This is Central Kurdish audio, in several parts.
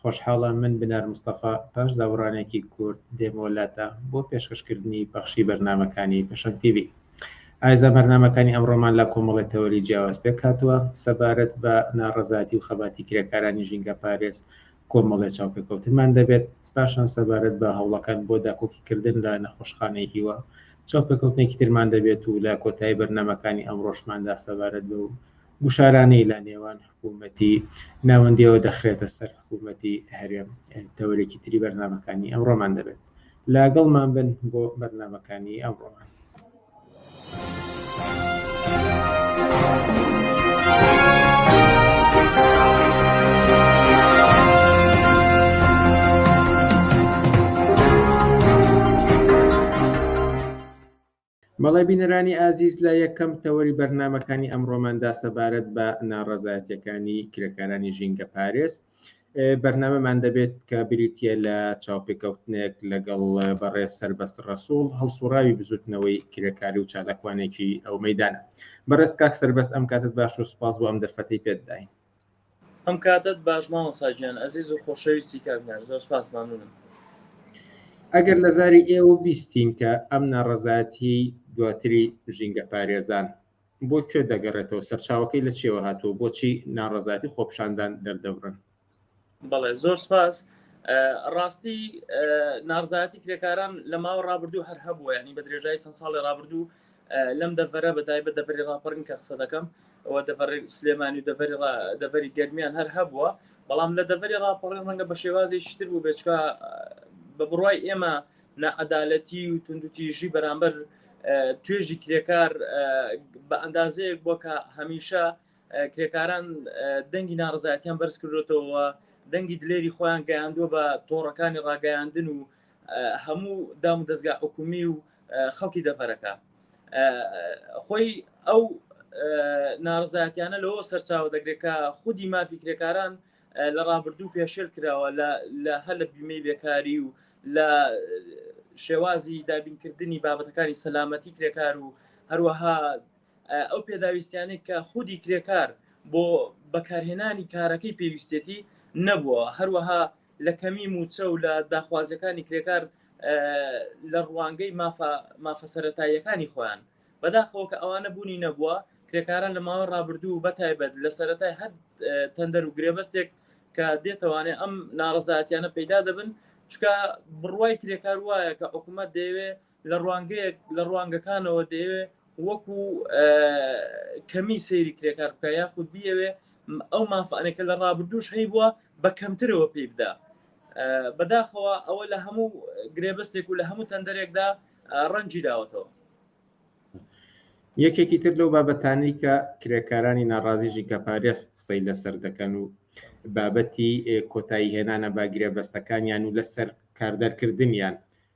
خۆشحاڵە من بنار مستەفا پاش دابڕانێکی کورت دێمۆ لاتا بۆ پێشکەشکردنی پەخشی بەرنامەکانی پەشەنگ تیڤی ئایزا بەرنامەکانی ئەمڕۆمان لە کۆمەڵی تەوەری جیاواز پێکهاتووە سەبارەت بە ناڕەزاتی و خەباتی کرێکارانی ژینگە پارێز کۆمەڵێ چاوپێکەوتنمان دەبێت پاشان سەبارەت بە هەوڵەکان بۆ داکۆکیکردن لە نەخۆشخانەی هیوا چاوپێکەوتنێکی ترمان دەبێت و لە کۆتایی بەرنمەکانی ئەم ڕۆژماندا سەبارەت بە و گوشارانەی لە نێوان حکوومەتی ناوەندیەوە دەخرێتە سەر حکوومەتی هەرێم تەوەرێکی تری بەرنمەکانی ئەمڕۆمان دەبێت لاگەڵمان بن بۆ بەرنمەکانی ئەمڕۆمان. بەڵێ بینەرانی ئازیز لە یەکەم تەوەری بەرنامەکانی ئەمڕۆماندا سەبارەت بە ناڕەزایەتەکانی کرێکارانی ژینگە پارێز بەرنامەمان دەبێت کە بریتە لە چاوپێکەوتنێک لەگەڵ بەڕێ سربەست ڕسوول هەڵسوڕاوی بزوتنەوەی کرێکاری و چالاکوانێکی ئەو مەدانە بەڕێز کاک سربەست ئەم کاتت باش و سپاس بۆ ئەم دەرفەتی پێتداین ئەم کاتەت باش مامۆسا گیان ئەزیز و خۆشەویستی کاک دیار زۆر سپاس مەمنونم. ئەگەر لە زاری ئێوە بیستین کە ئەم ناڕەزایەتیی دواتری ژینگەپارێزان بۆ کوێ دەگەڕێتەوە، سەرچاوەکەی لە چییەوە هاتووە، بۆچی ناڕەزایەتی خۆپیشاندان دەردەبڕن؟ بەڵێ زۆر سپاس. ڕاستی ناڕزایەتی کرێکاران لە ماوە ڕابردوو هەر هەبووە ینی بە درێژای چەند ساڵی ڕابردوو لەم دەڤەرە بەتایبە دەبری ڕاپەڕین کە قسە دەکەم ئەوە دەبڕی سلێمانی و دەبری دەبری گەرمیان هەر هەبووە بەڵام لە دەبری ڕاپەڕین ڕەنگە بە شێوازی شتر بوو بێچکە بە بڕای ئێمە نەعەدالەتی و توندوتیژی بەرامبەر توێژی کرێکار بە ئەندازەیەک بۆ کە هەمیشە کرێکاران دەنگی ناڕزایەتیان بەرز کردوێتەوە دەنگی دلێری خۆیان گەیاندووە بە تۆڕەکانی ڕاگەیاندن و هەموو دام و دەستگا حکومی و خەڵکی دەڤەرەکە خۆی ئەو ناڕزاتیانە لەوە سەرچاوە دەگرێت کە خودی مافی کرێکاران لە ڕابردوو پێشێل کراوە لە هەر لە بیمەی بێکاری و لە شێوازی دابینکردنی بابەتەکانی سەلامەتی کرێکار و هەروەها ئەو پێداویستیانێک کە خودی کرێکار بۆ بەکارهێنانی کارەکەی پێویستێتی نەبووە هەروەها لە کەمی مووچە و لە داخوازیەکانی کرێکار لە ڕوانگەی مافە مافە سەتاییەکانی خۆیان بەداخەوە کە ئەوانە بوونی نەبووە کرێکاران لە ماوە ڕابردوو بە تایبەت لە سەتای هەر تەندەر و گرێبەستێک کە دێتوانێ ئەم ناڕزاتیانە پەیدا دەبن چکە بڕوای کرێکار وایە کە حکوومەت دەیەوێ لە ڕوانگەیەک لە ڕوانگەکانەوە دەیەوێ وەکو کەمی سەیری کرێکار بکە یاخود بیەوێ ئەو مافانێکە لە ڕابردوش هەی بووە بە کەمترەوە پێی بدا بەداخەوە ئەوە لە هەموو گرێبەستێک و لە هەموو تەندەرێکدا ڕەنجی داوەتەوە یەکێکی تر لەو بابەتانی کە کرێکارانی ناڕازیژی کە پارێز قسەی لەسەر دەکەن و بابەتی کۆتایی هێنانە باگرێ بەستەکانیان و لەسەر کاردەرکردنیان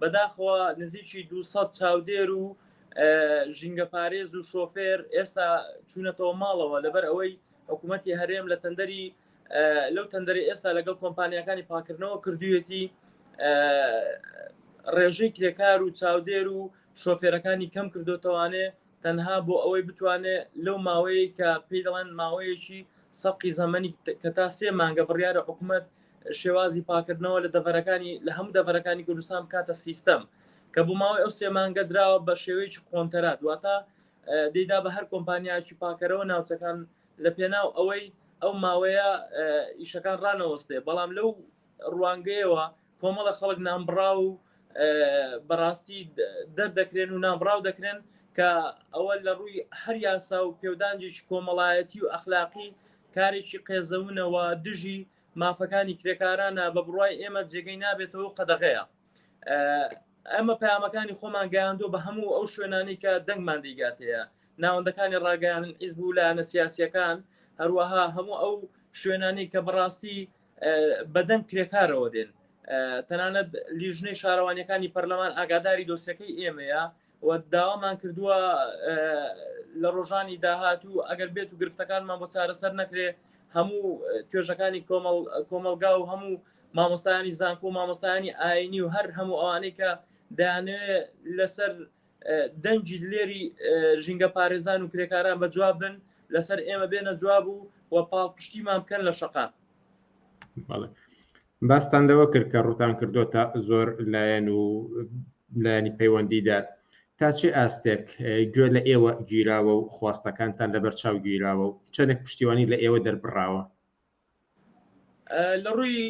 بەداخەوە نزیکی دوو سەد چاودێر و ژینگەپارێز و شۆفێر ئێستا چوونەتەوە ماڵەوە لەبەر ئەوەی حکوومەتی هەرێم لە تەندەری لەو تەندەری ئێستا لەگەڵ کۆمپانیەکانی پاکردنەوە کردویەتی ڕێژەی کرێکار و چاودێر و شۆفێرەکانی کەم کردوتەوانێ تەنها بۆ ئەوەی بتوانێ لەو ماوەیەی کە پێی دەڵێن ماوەیەکی سەبقی زەمەنی کە تا سێ مانگە بڕیارە حکومەت شێوازی پاکردنەوە لە دەڤەرەکانی لە هەموو دەڤەرەکانی کوردستان بکاتە سیستەم کە بۆ ماوەی ئەو سێ مانگە دراوە بە شێوەیەکی قۆنتەرا دواتە دەیدا بە هەر کۆمپانیایکی پاکەرەوە ناوچەکان لە پێناو ئەوەی ئەو ماوەیە ئیشەکان ڕانەوەستێ بەڵام لەو ڕوانگەیەوە کۆمەڵە خەڵک نانبڕاو و بەڕاستی دەردەکرێن و نانبڕاو دەکرێن کە ئەوە لە ڕووی هەر یاسا و پێودانجێکی کۆمەڵایەتی و ئەخلاقی کارێکی قێزەونەوە دژی مافەکانی کرێکارانە بە بڕای ئێمە جێگەی نابێتەوە و قەدەغەیە ئەمە پامەکانی خۆمان گەیاندۆ بە هەموو ئەو شوێنانی کە دەنگمان دیگاتەیە ناوەندەکانی ڕاگەیان ئیزبوو لایەنە سیاسیەکان هەروەها هەموو ئەو شوێنانی کە بەڕاستی بەدەنگ کرێکارەوە دێن تەنانەت لیژنەی شارەوانیەکانی پەرلەمان ئاگاداری دۆسیەکەی ئێمەیە و داوامان کردووە لە ڕۆژانی داهاتوو ئەگەر بێت و گرفتەکانمان بۆ چارەسەر نەکرێ هەموو توێژەکانی کۆمەڵ کۆمەلگا و هەموو مامۆستایانی زانکۆ و مامۆستایانی ئاینی و هەر هەموو ئەوانەی کە دانێ لەسەر دەنگی دلێری ژینگە پارێزان و کرێکاران بە جواب بن لەسەر ئێمە بێنە جواب و و پاڵپشتیمان بکەن لە شقا باستان لەوە کرد کە ڕوتان کردو تا زۆر لایەن و لایەنی پەیوەندیدار تا چه ئاستێک گوێ لە ئێوە گیراوە و خواستەکانتان لەبەر چاو گیراوە و چەندێک پشتیوانی لە ئێوە دەربراوە لە ڕووی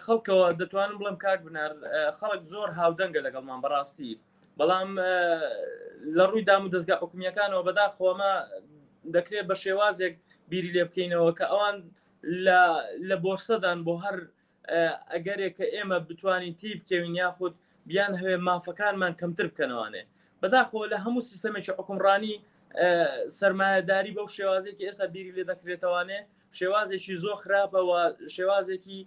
خەڵکەوە دەتوانم بڵم کاک بنار خەڵک زۆر هاودەنگە لەگەڵمان بەڕاستی بەڵام لە ڕووی دام و دەستگا حکومیەکانەوە بەدا خۆمە دەکرێت بە شێوازێک بیری لێ بکەینەوە کە ئەوان لە بۆرسەدان بۆ هەر ئەگەرێکە ئێمە بتوانین تێی بکەوین یاخود بیان هەوێ مافەکانمان کەمتر بکەنەوانێ بەداخۆ لە هەموو سیستەمێکی حکومڕانی سرمایهداری بەو شێوازێکی ئێستا بیری لێ دەکرێتوانێ شێوازێکی زۆ خراپەوە شێوازێکی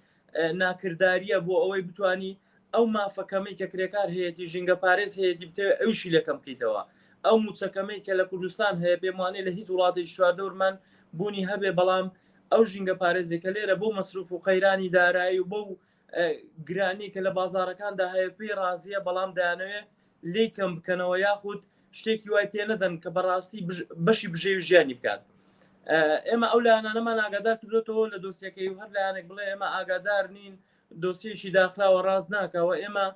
ناکردداریە بۆ ئەوەی بتانی ئەو مافەکەمی کە کرێکار هەیەی ژینگە پارێز هەیەی بتەوێ ئەوشی لەکەم بکەیتەوە ئەو موچەکەمەی کە لە کوردستان هەیە پێمانێ لە هیچ وڵاتی شواردەورمان بوونی هەبێ بەڵام ئەو ژینگە پارێزی کە لێرە بەو مەسروف و قەیرانی دارایی و بەو گرانی کە لە بازارەکاندا هەیە پێی ڕازیە بەڵام دەیانەوێ لێی کەم بکەنەوە یاخود شتێکی وای پێ نەدەن کە بەڕاستی بەشی بژێوی ژیانی بکات ئێمە ئەو لایەنانەمان ئاگادار کردێتەوە لە دۆسیەکەی هەر لایەنێک بڵێ ئێمە ئاگادار نین دۆسیەکی داخراوە ڕاست ناکەوە ئێمە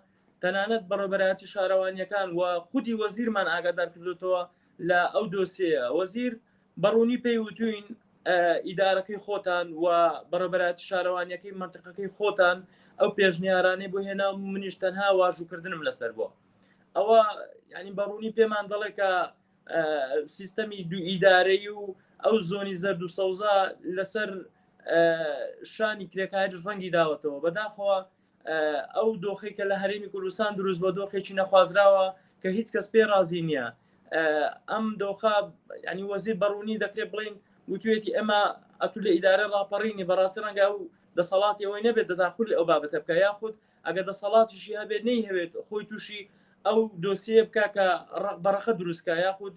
تەنانەت بەڕێبەراتی شارەوانیەکان و خودی وەزیرمان ئاگادار کردێتەوە لە ئەو دۆسیەیە وەزیر بە ڕوونی پێی وتووین ئیدارەکەی خۆتان و بە ڕێبەرایەتی شارەوانییەکەی مەنتیقەکەی خۆتان ئەو پێشنیارانەی بۆ هێناوم و منیش تەنها واژووکردنم لەسەر بووە. ئەوە یانی بە ڕوونی پێمان دەڵێت کە سیستەمی دوو ئیدارەیی و ئەو زۆنی زەرد و سەوزە لەسەر شانی کرێکاریش ڕەنگی داوەتەوە. بەداخەوە ئەو دۆخی کە لە هەرێمی کوردستان دروست بە دۆخێکی نەخوازراوە کە هیچ کەس پێ رازی نییە ئەم دۆخە ینی وەزیر بەڕوونی دەکرێت بڵین وتوێتی ئەمە ئەتو لە ئیدارە راپەڕینی بەڕاستی ڕەنگە و دەسەڵاتی ئەوەی نەبێت دەداخلی ئەو بابەتە بکە یاخود ئەگەر دەسەڵاتیشی هەبێت نەی هەوێت خۆی تووشی ئەو دۆسیە بکە کە ڕق بەڕەخە دروستکە یاخود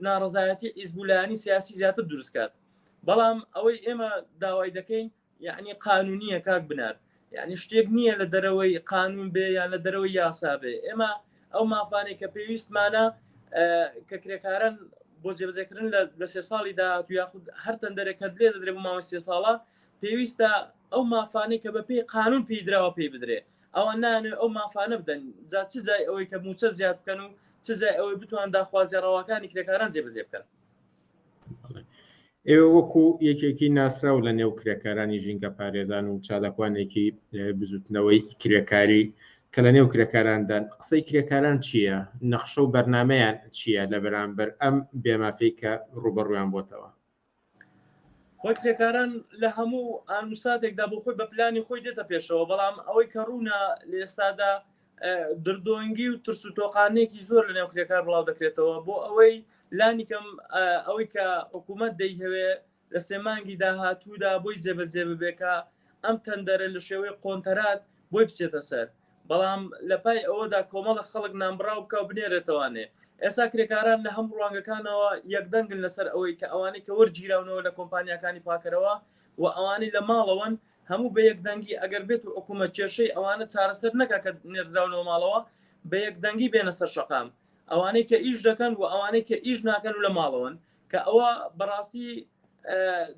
ناڕزایەتی ئیزبولانی سیاسی زیاتر دروستکات بەڵام ئەوەی ئێمە داوای دەکەین یەعنی قانونیە کاک بنار یەعنی شتێک نییە لە دەرەوەی قانون بێ یان لە دەرەوەی یاسا بێ ئێمە ئەو مافانێک کە پێویستمانە کە کرێکارن بۆ جێبجێکردن لە سێ ساڵی داهات و یاخود هەر تەندەرێک کە لێ دەدرێ بۆ ماوە سێ ساڵە پێویستە ئەو مافانەی کە بە پێی قانون پێیدراوە پێی بدرێ ئەوە نانێ ئەو مافانە بدەن جا چ جای ئەوەی کە موچە زیاد بکەن و چ جای ئەوەی بتوان داخوازی ڕەواکانی کرێکاران جێبەجێ بکەن ئێوە وەکو یەکێکی ناسراو لە نێو کرێکارانی ژینگە پارێزان و چادەکوانێکی بزوتنەوەی کرێکاری کە لە نێو کرێکاراندان قسەی کرێکاران چییە نەخشە و بەرنمەیان چییە لە بەرامبەر ئەم بێمافەی کە ڕوبەڕویان بۆتەوە خۆی کرێکاران لە هەموو ئانوساتێکدا بۆ خۆی بە پلانی خۆی دێتە پێشەوە بەڵام ئەوەی کە ڕوونە لە ئێستادا دردۆنگی و ترس و تۆقانێکی زۆر لە نێو کرێکار بڵاو دەکرێتەوە بۆ ئەوەی لانیکەم ئەوەی کە حکوومەت دەیهوێ لە سێمانگی داهاتوودا بۆی جێبەجێ ببێکە ئەم تەندەرە لە شێوەی قۆنتەرات بۆی بچێتە سەر بەڵام لە پای ئەوەدا کۆمەڵە خەڵک نامبراو بکە و بنێرێتوانێ ئێستا کرێکاران لە هەموو ڕوانگەکانەوە یەکدەنگن لەسەر ئەوەی کە ئەوانەی کە وەرگیراونەوە لە کۆمپانیەکانی پاکەرەوە و ئەوانەی لە ماڵەوەن هەموو بە یەک دەنگی ئەگەر بێت و حکوومەت کێشەی ئەوانە چارەسەر نەکا کە نێردراونەوە ماڵەوە بە یەک دەنگی بێنە سەر شەقام ئەوانەی کە ئیش دەکەن و ئەوانەی کە ئیش ناکەن و لە ماڵەوەن کە ئەوە بەڕاستی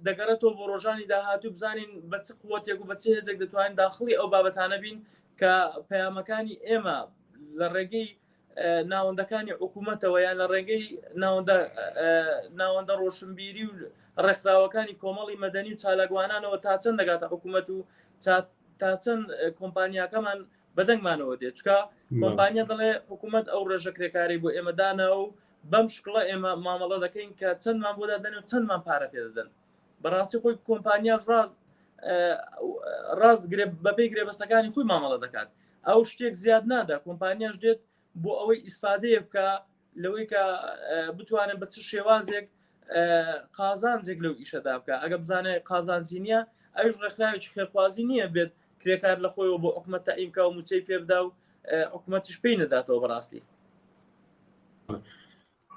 دەگەڕێتەوە بۆ ڕۆژانی داهاتوو بزانین بە چ قوتێک و بە چ هێزێک دەتوانین داخڵی ئەو بابەتانە بین کە پەیامەکانی ئێمە لە ڕێگەی ناوەندەکانی حکوومەتەوە یان لە ڕێگەی ناوەندە ڕۆشنبیری و ڕێکخراوەکانی کۆمەڵی مەدەنی و چالاکوانانەوە تا چەند دەگاتە حکوومەت و تا چەند کۆمپانیاکەمان بەدەنگمانەوە دێت چکە کۆمپانیا دەڵێ حکوومەت ئەو ڕێژە کرێکاری بۆ ئێمەدانا و بەم شکڵە ئێمە مامەڵە دەکەین کە چەندمان بۆ دادەن و چەندمان پارە پێدەدەن بەڕاستی خۆی کۆمپانیاش ڕاز ڕاست بەپی گرێبەستەکانی خۆی مامەڵە دەکات ئەو شتێک زیاد نادا کۆمپانیاش دێت بۆ ئەوەی ئیسفادەیە بکە لەوەی کە بتوانن بە چ شێوازێک قازانجێک لەو ئیشەدا بکە ئەگە بزانێ قازانجی نییە ئەوش ڕێکخراوێکی خێرخوازی نییە بێت کرێکار لە خۆیەوە بۆ حکومەت تا ئیمکا و موچەی پێبدا و حکوومەتیش پێی نەداتەوە بەڕاستی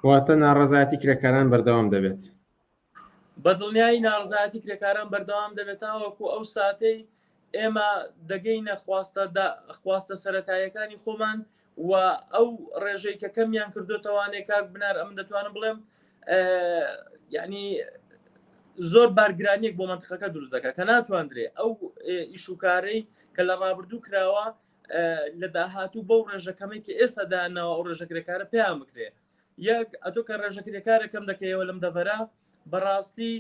واتە ناڕزایەتی کرێکاران بەردەوام دەبێت بەدڵنیایی ناڕەزایەتی کرێکاران بەردەوام دەبێت تاوەکو ئەو ساتەی ئێمە دەگەینە خواستە سەرەتاییەکانی خۆمان و ئەو ڕێژەی کە کەمیان کردوتەوانێ کاک بنار ئەم دەتوانم بڵێم یعنی زۆر بارگرانیەک بۆ منتخەکە دروست دەکە کە ناتواندرێ ئەو ئیشوکارەی کە لە ڕابردوو کراوە لە داهاتوو بەو ڕێژەکەمەی کە ئێستا داناوە ئەو ڕێژەکرێکارە پێیان بکرێ یەک ئەتۆ کە ڕێژە کرێکارەکەم دەکەیەوە لەم دەڤەرە بەڕاستی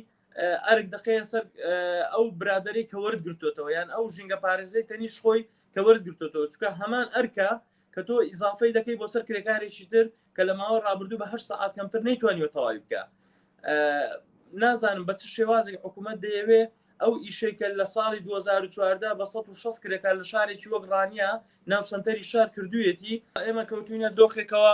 ئەرک دەخەیە سەر ئەو برادری کە وەرد گرتوتەوە یان ئەو ژینگە پارێزەی تەنیش خۆی کە وەرد گرتوتەوە چکە هەمان ئەرکە کە تۆ ئیزافەی دەکەی بۆ سەر کرێکارێکی تر کە لە ماوە ڕابردوو بەه سعات کەمتر نەیتوانیوە تەواوی بکە نازانم بە چ شێوازێک حکوومەت دەیەوێ ئەو ئیشێکە لە ساڵی 2014 بە 16 کرێکار لە شارێکی وەک ڕانیە ناو سنتەری شار کردویەتی ئێمە کەوتوینە دۆخێکەوە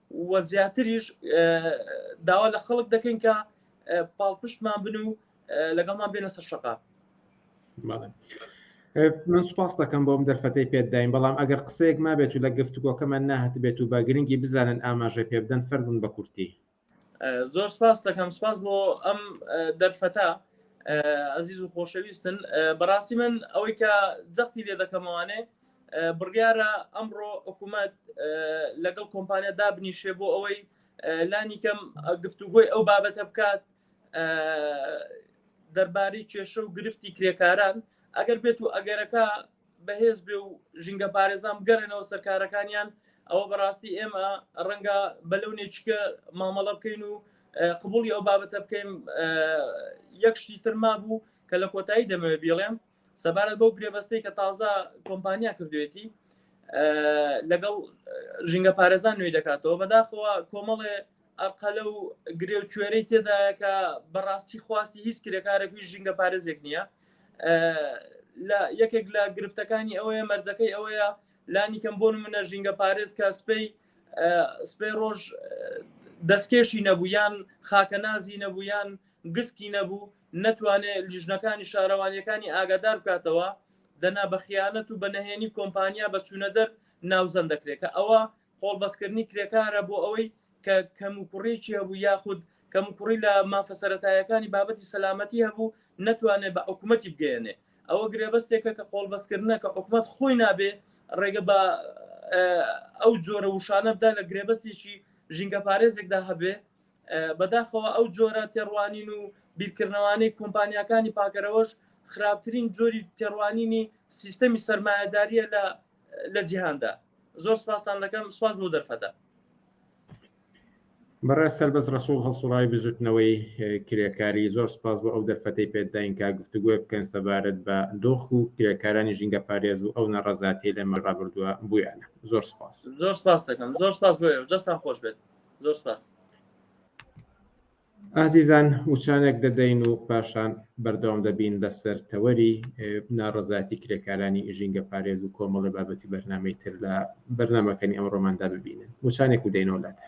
وە زیاتریش داوا لە خەڵک دەکەین کە پاڵپشتمان بن و لەگەڵمان بێنە سەر شەقا من سوپاس دەکەم بۆم دەرفەتەی پێداین بەڵام ئەگەر قسەیەک ما بێت و لە گفتوگۆکەمان ناهت بێت و بە گرنگی بزانن ئاماژە پێ بدەن فەرمون بە کورتی زۆر سپاس دەکەم سپاس بۆ ئەم دەرفەتە ئەزیز و خۆشەویستن بەڕاستی من ئەوەی کە جەختی لێ دەکەمەوانێ بڕیارە ئەمڕۆ حکوومەت لەگەڵ کۆمپانیا دابنیشێ بۆ ئەوەی لانیکەم گفتوگۆی ئەو بابەتە بکات دەربارەی کێشە و گرفتی کرێکاران ئەگەر بێت و ئەگەرەکە بەهێز بێ و ژینگە پارێزان بگەڕێنەوە سەرکارەکانیان ئەوە بەڕاستی ئێمە ڕەنگە بەلەونێکە مامەڵە بکەین و قبولی ئەو بابەتە بکەین یەکشتی ترما بوو کە لە کۆتایی دەمەوێت بیڵێم سەبارەت بەو گرێبەستەی کە تازە کۆمپانیا کردوێتی لەگەڵ ژینگە پارێزان نوێی دەکاتەوە بەداخەوە کۆمەڵێ ئەقەلە و گرێ و کوێرەی تێدایە کە بەڕاستی خواستی هیچ کرێکارێکوی ژینگە پارێزێک نییە لە یەکێک لە گرفتەکانی ئەوەیە مەرزەکەی ئەوەیە لانی کەم بۆن منە ژینگە پارێز کە سپی سپی ڕۆژ دەستکێشی نەبوو یان خاکەنازی نەبوو یان گسکی نەبوو نەتوانێ لیژنەکانی شارەوانییەکانی ئاگادار بکاتەوە، دەنا بە خیانەت و بە نەهێنی کۆمپانیا بە چوونەدەر ناوزەند دەکرێ کە ئەوە قۆڵبەستکردنی کرێکارە بۆ ئەوەی کە کەموکوڕییەکی هەبوو یاخود کەموکوڕی لە مافە سەرەتاییەکانی بابەتی سەلامەتی هەبوو نەتوانێ بە حکومەتی بگەیەنێ. ئەوە گرێبەستێکە کە قۆڵبەستکردنە کە حکومەت خۆی نابێ ڕێگە بە ئەو جۆرە وشانە بدا لە گرێبەستێکی ژینگەپارێزێکدا هەبێ بەداخەوە ئەو جۆرە تێڕوانین و بیرکردنەوانەی کۆمپانیاکانی پاکەرەوەش خراپترین جۆری تێڕوانینی سیستەمی سەرمایەداریە لە لە جیهاندا زۆر سپاستان دەکەم سپاس بۆ دەرفەتە بەڕێ سەربەز ڕسوڵ هەڵسوڕای بزوتنەوەی کرێکاری زۆر سپاس بۆ ئەو دەرفەتەی پێداین کا گفتوگوۆ بکەن سەبارەت بە دۆخ و کرێکارانی ژینگە پارێز و ئەو نەڕەزاتی لەمە ڕابردووە بویانە زۆر سپاس زۆر سپاس دەکەم زۆر سپاس بۆ دەستان خۆش بێت زۆر سپاس ئازیزان وچانێک دەدەین و پاشان بەردەوام دەبین لەسەر تەوەری ناڕزاتی کرێکارانی ژینگە پارێز و کۆمەڵی بابەتی بەرنمەی تر لە بەرنمەکەنی ئەم ڕۆماندا ببینن وچانێک و دەینەوە لاتە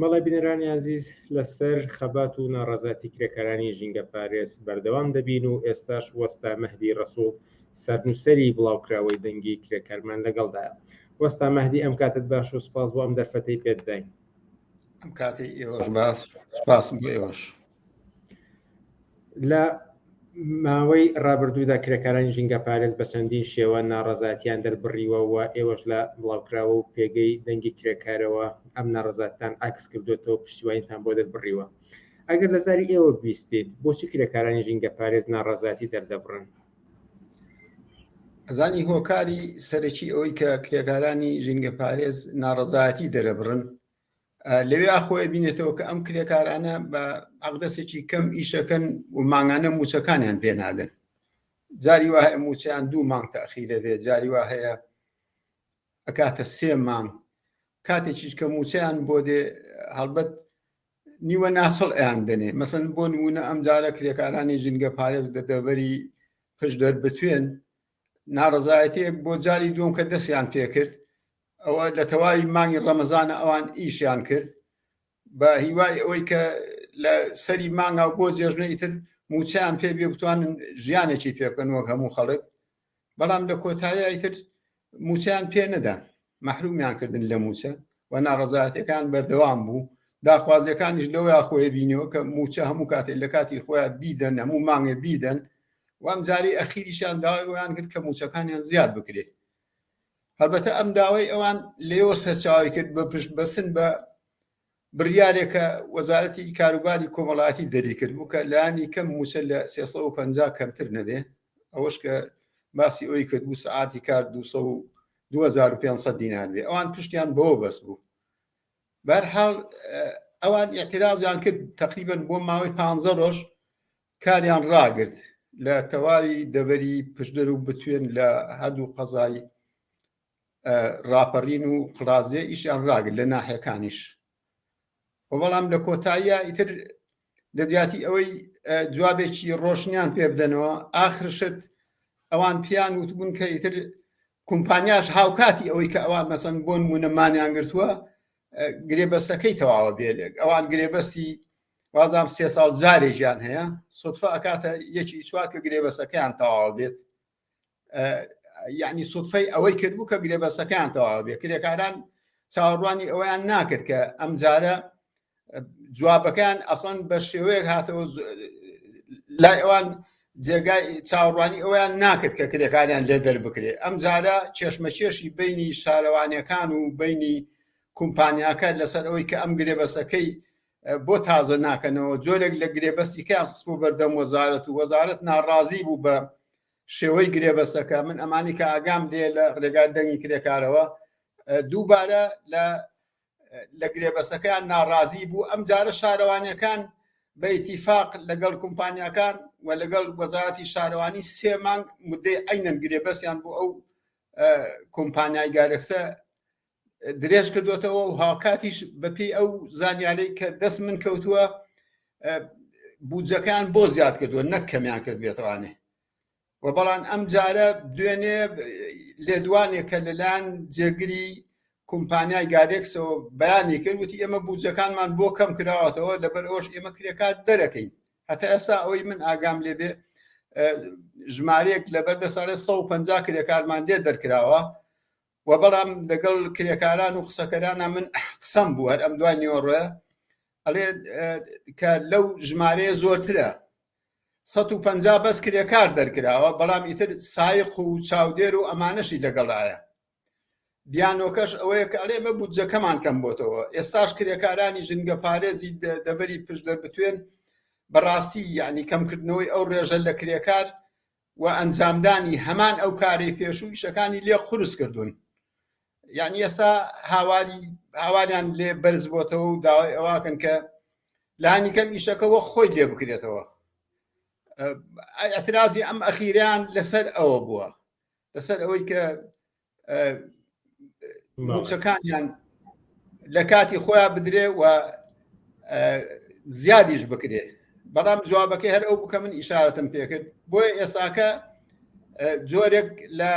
بەڵێ بینەرانی ئازیز لەسەر خەبات و ناڕازاتی کرێکارانی ژینگە پارێز بەردەوام دەبین و ئێستاش وەستا مەهدی ڕسوڵ سەرنووسری بڵاوکراوەی دەنگی کرێکارمان لەگەڵدایە وەستا مەهدی ئەم کاتت باش و سپاس بۆ ئەم دەرفەتەی پێداین ئەم کاتی ئێوەش باس سپاسم بۆ ئێوەش لە ماوەی ڕابردوودا کرێکارانی ژینگە پارێز بە چەندین شێوە ناڕزاتیان دەربڕیوەوە ئێوەش لە بڵاوکراوە و پێگەی دەنگی کرێکارەوە ئەم ناڕزاتان عکس کردوێتەوە پشتیوانیتان بۆ دەربڕیوە ئەگەر لە زاری ئێوە بیستیت بۆچی کرێکارانی ژینگە پارێز ناڕزاتی دەردەبڕن ئەزانی هۆکاری سەرەکی ئەوەی کە کرێکارانی ژینگە پارێز ناڕەزایەتی دەرەبڕن لەوێ خۆی بینێتەوە کە ئەم کرێکارانە بە ئەقدەسێکی کەم ئیشەکەن و مانگانە موچەکانیان پێنادن جاری وا هەیە موچیان دوو مانگ تاخی دەبێت جاری وا هەیە ئەکاتە سێ مانگ کاتێکیش کە موچیان بۆ دێ هەڵبەت نیوە ناسڵ ئەیان دەنێ مەسن بۆ نمونە ئەم جارە کرێکارانی ژینگە پارێز دە دەبەری پش دەربتوێن ناڕزایەتەیەک بۆ جاری دوم کە دەستیان پێکرد ئەوە لە تەواوی مانگی ڕەمەزانە ئەوان ئیشیان کرد بە هیوای ئەوەی کە لە سەری مانگا بۆ جێژنە ئیتر موچیان پێ بێ بتوانن ژیانێکی پێکەن وەک هەموو خەڵک بەڵام لە کۆتایی ئیتر موچەیان پێ نەدا مەحرومیان کردن لە موچە و ناڕزایەتەکان بەردەوام بوو داخوازیەکانیش لەوە خۆی بینیەوە کە موچە هەموو کاتێک لە کاتی خۆیان بیدەن هەموو مانگێ بیدەن وام جاری ئەخیریشان داوایان کرد کە موچەکانیان زیاد بکرێت هەربەتە ئەم داوای ئەوان لێەوە سەرچاوی کرد بە پشت بەسن بە بڕیارێکە وەزارەتی کاروباری کۆمەڵایەتی دەریکردبوو کە لانی کەم موچە لە 350 کەمتر نەبێ ئەوەش کە باسی ئەوی کردبوو سعاتی کار 2500 دینار بێ ئەوان پشتیان بۆ بەس بوو بەرحاڵ ئەوان اعتراضیان کرد تقریبن بۆ ماوەی پ ڕۆژ کاریان ڕاگرت لە تەواوی دەبەری پشدەر و بتوێن لە هەردوو قەزایی ڕاپەڕین و قڕازێ ئیشیان ڕاگر لە ناحەکانیش و بەڵام لە کۆتاییە ئیتر لە جیاتی ئەوەی جوابێکی ڕۆشنیان پێ بدەنەوە ئاخرشت ئەوان پیان وتبوون کە ئیتر کۆمپانیاش هاوکاتی ئەوەی کە ئەوان مەسەن بۆ نمونەمانیان گرتووە گرێبەستەکەی تەواوە بێ لێک ئەوان گرێبەستی وازام سێ ساڵ جارێکیان هەیە سوتفە ئەکاتە یەکی چوار کە گرێبەسەکەیان تەواوە بێت یعنی سوفەی ئەوەی کردبوو کە گرێبەسەکەیان تەواو بێ کرێکاران چاوەڕوانی ئەویان ناکرد کە ئەم جارە جوابەکان ئەسڵەن بە شێوەیەک هاتەوە لای ئەوان جێگای چاوەڕوانی ئەویان ناکرد کە کرێکاریان لێ دەربکرێ ئەم جارە کێشمەکێشی بینی شارەوانەکان و بینی کومپانیاکە لەسەر ئەوەی کە ئەم گرێبەسەکەی بۆ تازە ناکەنەوە جۆرێک لە گرێبەستی کە خستبوو بەردەم وەزارەت و وەزارەت ناڕازی بوو بە شێوەی گرێبەسەکە من ئەمانی کە ئاگام لێ لە ڕێگای دەنگی کرێکارەوە دووبارە لە لە گرێبەسەکەیان ناڕازی بوو ئەم جارە شارەوانیەکان بە ئیتیفاق لەگەڵ کومپانیەکان و لەگەڵ وەزارەتی شارەوانی سێ مانگ مدەی ئەینەن گرێبەسیان بۆ ئەو کۆمپانیای گارەکسە درێژ کردوێتەوە و هاوکاتیش بەپی ئەو زانیارەی کە دەست من کەوتووە بودجەکان بۆ زیاد کردووە نەک کەمیان کرد بێتوانێ و بەڵام ئەم جارە دوێنێ لێدوانێک کە لەلایەن جێگری کۆمپانیای گارێکسەوە بەیانی کرد وتی ئێمە بودجەکانمان بۆ کەم کراوەتەوە لەبەر ئەوش ئێمە کرێکار دەرەکەین هەتا ئێستا ئەوەی من ئاگام لێبێ ژمارەیەک لەبەر دەساێت 150 کرێکارمان لێ دەرکراوە وە بەڵام لەگەڵ کرێکاران و قسەکەرانە من قسەم بوو هەر ئەم دوای نیۆڕێ ئەڵێ کە لەو ژمارەیە زۆرترە 150 بەس کرێکار دەرکراوە بەڵام ئیتر سایق و چاودێر و ئەمانەشی لەگەڵایە بیانۆکەش ئەوەیە کە ئەڵێ مە بودجەکەمان کەم بۆتەوە ئێستاش کرێکارانی ژنگە پارێزی دەبەری پشت دەربتوێن بەڕاستی یعنی کەمکردنەوەی ئەو ڕێژە لە کرێکار و ئەنجامدانی هەمان ئەو کارەی پێشوو ئیشەکانی لێ قورس کردوون یعنی ئێستا هاواری هاواریان لێ بەرز بۆتەوە و داوای ئەواکەن کە لانی کەم ئیشەکەەوە خۆی لێ بکرێتەوە ئەترازی ئەم ئەخیریان لەسەر ئەوە بووە لەسەر ئەوەی کە موچەکانیان لە کاتی خۆیان بدرێ و زیادیش بکرێ بەڵام جوابەکەی هەر ئەو بکە من ئیشارەتم پێکرد بۆیە ئێساکە جۆرێک لە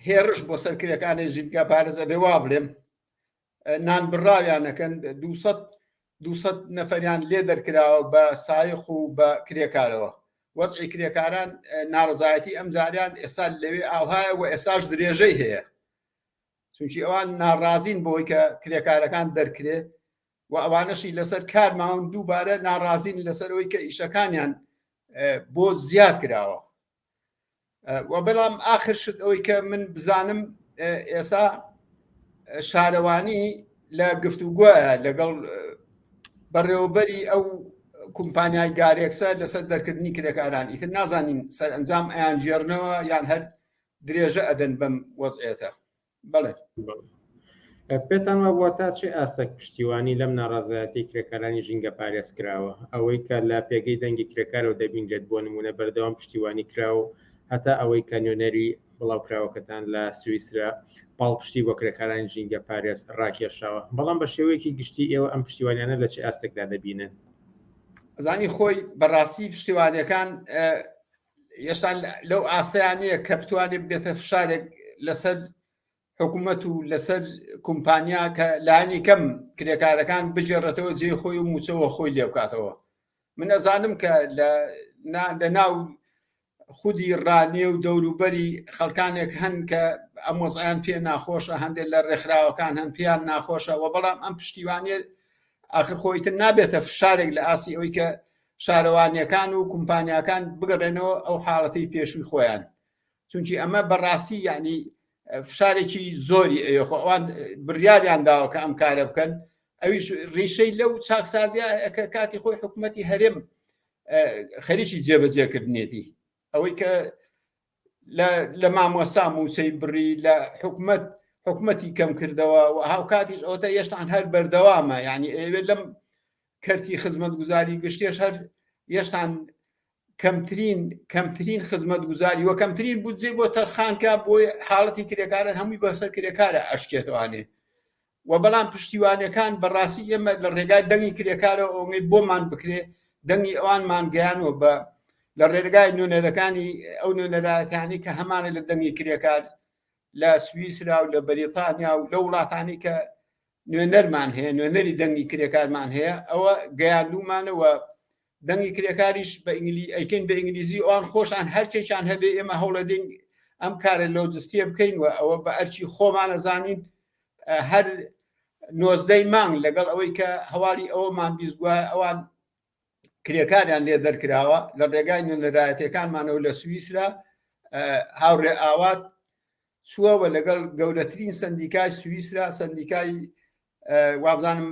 هێرش بۆ سەر کرێکانی ژینگە پارێزە بێ وا بڵێم نان بڕاویان ئەکەن دوو سەد دوو سەد نەفەریان لێ دەرکراوە بە سایەخ و بە کرێکارەوە وەزعی کرێکاران ناڕزایەتی ئەم جاریان ئێستا لەوێ ئاوهایە و ئێساش درێژەی هەیە چونکی ئەوان ناڕازین بۆی کە کرێکارەکان دەرکرێ و ئەوانەشی لەسەر کار ماون دووبارە ناڕازین لەسەرەوەی کە ئیشەکانیان بۆ زیاد کراوە و بەڵام ئاخر شت ئەوەی کە من بزانم ئێسا شارەوانی لە گفتوگوە لەگەڵ بەڕێوەبەری ئەو کومپانیای گارێکسە لەسەر دەرکردنی کرێکاران ئیتر نازانین سەرئەنجام ئەیان ژێرنەوە یان هەر درێژە ئەدەن بەم وەزعێتە بەڵێ پێتان وابووە تا چێ ئاستەک پشتیوانی لەم ناڕازایەتی کرێکارانی ژینگە پارێز کراوە ئەوەی کە لە پێگەی دەنگی کرێکارەوە دەبینرێت بۆ نمونە بەردەوام پشتیوانی کراو هەتا ئەوەی کە نوێنەری بڵاوکراوەکەتان لە سویسرا پاڵپشتی بۆ کرێکارانی ژینگە پارێز ڕاکێشاوە بەڵام بە شێوەیەکی گشتی ئێوە ئەم پشتیوانیانە لە چ ئاستێکدا دەبینن زانی خۆی بەڕاستی پشتیوانەکان ئێشتا لەو ئاستەیانەیە کە بتوانێت بێتە فشارێک لەسەر حکوومەت و لەسەر کومپانیا کە لانی کەم کرێکارەکان بجێڕێتەوە جێ خۆی و موچەوە خۆی لێ بکاتەوە من ئەزانم کە لە ناو خودی ڕانیە و دەوروبەری خەڵکانێک هەن کە ئەم وەزیان پێ ناخۆشە هەندێک لە ڕێکخراوەکان هەم پێیان ناخۆشە و بەڵام ئەم پشتیوانێت ئاخر خۆیتر نابێتە فشارێک لە ئاسی ئەوی کە شارەوانیەکان و کومپانیاکان بگەڕێنەوە ئەو حاڵەتی پێشووی خۆیان چونکی ئەمە بەڕاستی یعنی فشارێکی زۆری ئەوێ خۆ ئەوان بڕیاریان داوە کە ئەم کارە بکەن ئەویش ڕیشەی لەو چاکسازیە کە کاتی خۆی حکوومەتتی هەرێم خەریکی جێبەجێکردنێتی ئەوەی کە لە مامۆستا مووسەی بڕی لە حکومت حکومەتی کەم کردەوە و هاوکاتیش ئەوتە یشتان هەر بەردەوامە ینی ئەوێت لەم کەرتی خزمەت گوزاری گشتێش هەر یشتان کەمترین کەمترین خزمەت گوزاری وە کەمترین بودجێ بۆ تەرخانکە بۆی حاڵەتی کرێکارن هەمووی بەسەر کرێکارە ئەشکێتوانێ وە بەڵام پشتیوانەکان بەڕاستی ئێمە لە ڕێگای دەنگی کرێکارەوە ئەوەی بۆمان بکرێ دەنگی ئەوانمان گەیانەوە بە لە ڕێگای نوێنەرەکانی ئەو نوێنەرایەتانی کە هەمانە لە دەنگی کرێکار لە سویسرا و لە بەریتانیا و لە وڵاتانی کە نوێنەرمان هەیە نوێنەری دەنگی کرێکارمان هەیە ئەوە گەیاندومانەوە دەنگی کرێکاریش بە ئینگلی ئەیکەین بە ئینگلیزی ئەوان خۆشان هەرچێکیان هەبێ ئێمە هەوڵەدەین ئەم کارە لۆجستیە بکەین و ئەوە بە ئەرچی خۆمانە زانین هەر نۆزدەی مانگ لەگەڵ ئەوەی کە هەواڵی ئەوەمان بیستگووە ئەوان کرێکاریان لێ دەرکراوە لە ڕێگای نوێنەرایەتەکانمانەوە لە سوئیسرا هاوڕێ ئاوات چووەوە لەگەڵ گەورەترین سندیکای سوئیسرا سندیکای وابزانم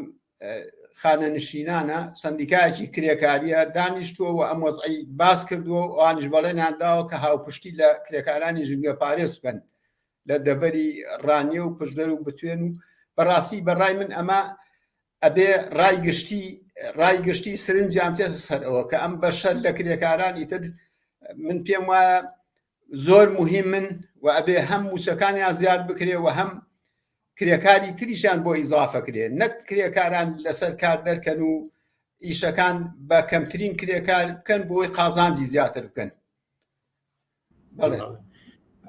خانەنشینانە سندیکایەکی کرێکاریە دانیشتووە و ئەم وەزعی باس کردووە و ئەوانش بەڵێنیان داوە کە هاوپشتی لە کرێکارانی ژنگە پارێز بکەن لە دەڤەری ڕانیە و پشدەر و بتوێن و بەڕاستی بەڕای من ئەمە ئەبێ ڕای گشتی ڕای گشتی سرنجیان تێ سەرەوە کە ئەم بەشەر لە کرێکاران ئیتر من پێم وایە زۆر موهیمن و ئەبێ هەم موچەکانیان زیاد بکرێ و هەم کرێکاری تریشان بۆ ئیزافە کرێ نەک کرێکاران لەسەر کار دەرکەن و ئیشەکان بە کەمترین کرێکار بکەن بۆی قازانجی زیاتر بکەن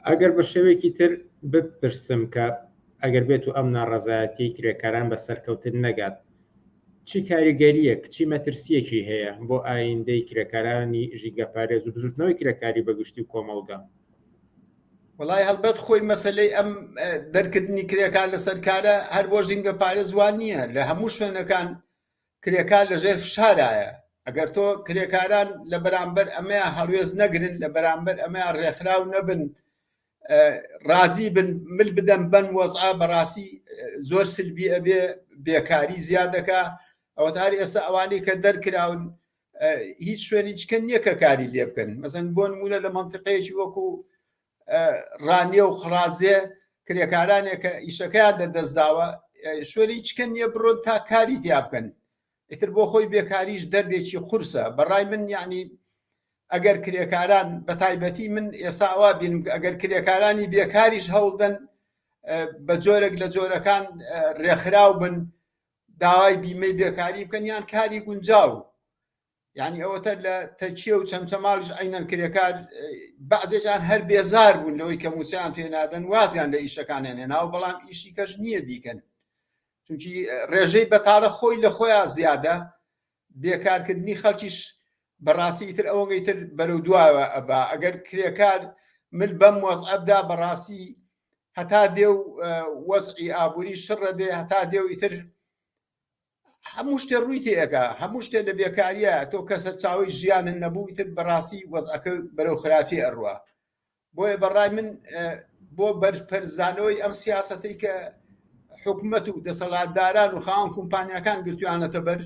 ئەگەر بە شێوەیەکی تر بپرسم کە ئەگەر بێت و ئەم ناڕەزایەتی کرێکاران بە سەرکەوتن نەگات چی کاریگەرییەک، چی مەترسییەکی هەیە بۆ ئاییندەی کرێکارانی ژینگەپارێز و بزووتنەوەی کرێکاری بە گشتی و کۆمەڵگا؟ وەڵای هەڵبەت خۆی مەسەلەی ئەم دەرکردنی کرێکار لەسەر کارە هەر بۆ ژینگەپارێز وان نییە، لە هەموو شوێنەکان کرێکار لەژێر فشارایە. ئەگەر تۆ کرێکاران لە بەرامبەر ئەمەیان هەڵوێست نەگرن، لە بەرامبەر ئەمەیان ڕێکخراو نەبن، ڕازی بن مل بدەم بەن وەزعە بەڕاستی زۆر سلبی ئەبێ بێکاری زیادەکە ئەوە هەر ئێستا ئەوانەی کە دەرکراون هیچ شوێنی چکە نییە کە کاری لێ بکەن مەزن بۆ نمونە لە منطقەیەکی وەکو ڕانیە و خڕازێ کرێکارانێک کە ئیشەکەیان لە دەستداوە شوێنی چکە نییە بڕۆن تا کاری تیا بکەن ئیتر بۆ خۆی بێکاریش دەردێکی قورسە بەڕای من یەعنی ئەگەر کرێکاران بەتایبەتی من ئێستا ئەوا بینم ئەگەر کرێکارانی بێکاریش هەوڵدەن بە جۆرێک لە جۆرەکان ڕێکخراو بن داوای بیمەی بێکاری بکەن یان کاری گونجاو یعنی ئەوەتە لە تەچیە و چەمچەماڵش عینەن کرێکار بەعزێکان هەر بێزار بوون لەوەی کە موچیان پێنادەن وازیان لە ئیشەکانیان هێناوە بەڵام ئیشی کەش نییە بیکەن چونکی ڕێژەی بەتاڵە خۆی لە خۆیان زیادە بێکارکردنی خەڵکیش بەڕاستی تر ئەوەی تر بەرەو دوایەوە ئەبا ئەگەر کرێکار مل بەم وەزعەبدا بەڕاستی هەتا دێ و وەزعی ئابووری شڕە بێ هەتا دێ و ئیتر هەموو شتێ ڕووی تێەکە هەموو شتێ لە بێکاریە تۆ کەسە چاوی ژیانن نەبوو ئیتر بەڕاستی وەزعەکە بەرەو خراپی ئەڕوە بۆیە بەڕای من بۆ بەرزپەرزانەوەی ئەم سیاستەی کە حکومەت و دەسەڵاتداران و خاوەن کۆمپانیەکان گرتویانەتە بەر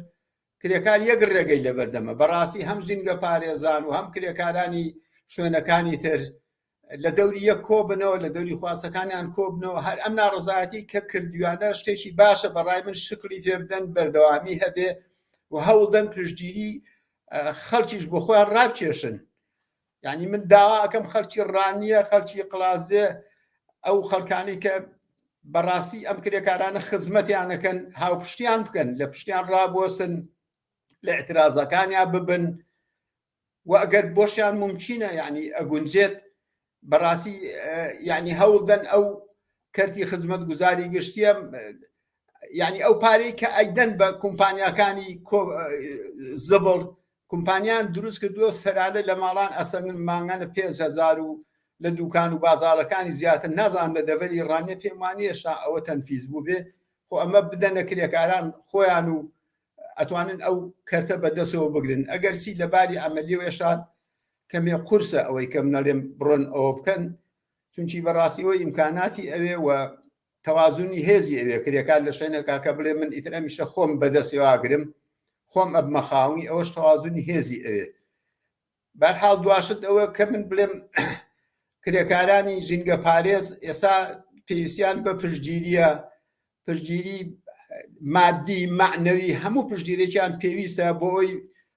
کرێکار یەک ڕێگەی لەبەردەمە بەڕاستی هەم زینگە پارێزان و هەم کرێکارانی شوێنەکانی تر لە دەوری یەک کۆبنەوە لە دەوری خواستەکانیان کۆبنەوە هەر ئەم ناڕزایەتی کە کردویانە شتێکی باشە بەڕای من شکلی پێ بدەن بەردەوامی هەبێ و هەوڵدەن پشتگیری خەڵکیش بۆ خۆیان ڕابکێشن یانی من داواکەم خەلکی ڕانیە خەلکی قلازێ ئەو خەلکانی کە بەڕاستی ئەم کرێکارانە خزمەتیانەکەن هاوپشتیان بکەن لە پشتیان ڕابوەسن لە اعترازەکانیان ببن و ئەگەر بۆشیان ممچینە یعنی ئەگونجێت بەڕاستی یعنی هەوڵدەن ئەو کەرتی خزمەت گوزاری گشتیە یعنی ئەو پارەی کە ئەیدەن بە کومپانیاکانی زبڵ کۆمپانیان دروست کردووە سەرانە لە ماڵان ئەسەنن مانگانە پێنج هەزار و لە دوکان و بازاڕەکانی زیاتر نازانم لە دەڤەری ڕانیە پێم وانیە هێشتا ئەوە تەنفیز بوو بێ خۆ ئەمە بدەنە کرێکاران خۆیان و ئەتوانن ئەو کەرتە بەدەستەوە بگرن ئەگەر سی لە باری ئەمەلی و هێشتا کەمێ قورسە ئەوەی کەم نەڵێم بڕۆن ئەوە بکەن چونکی بەڕاستی ئەوەی ئیمکاناتی ئەوێ و تەوازونی هێزی ئەوێ کرێکار لە شوێنێکا کە بڵێ من ئیتر ئەمیشە خۆم بەدەسێ واگرم خۆم ئەبمە خاوەنی ئەوەش تەوازونی هێزی ئەوێ بەرحاڵ دواشت ئەوە کە من بڵێم کرێکارانی ژینگە پارێز ئێستا پێویستیان بە پشتگیریە پشتگیری مادی معنەوی هەموو پشتگیرێکیان پێویستە بۆ ئەوی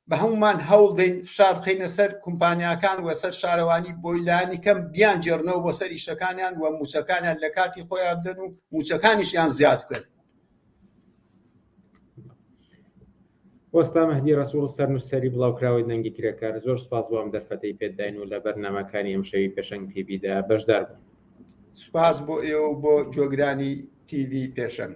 بە هەموومان هەوڵ دەین فشار بخەینە سەر کومپانیاکان و سەر شارەوانی بۆی لانی کەم بیان جێڕنەوە بۆ سەر ئیشەکانیان و موچەکانیان لە کاتی خۆیان بدەن و موچەکانیشیان زیاد بکەن وەستا مەهدی ڕسوڵ سەر نووسری بڵاوکراوەی دەنگی کرێکار زۆر سپاس بۆم دەرفەتەی پێداین و لە بەرنمەکانی ئەم شەوی پێشنگ تیبیدا بەشدار بوو سپاس بۆ ئێوە بۆ جۆگرانی تیوی پێشنگ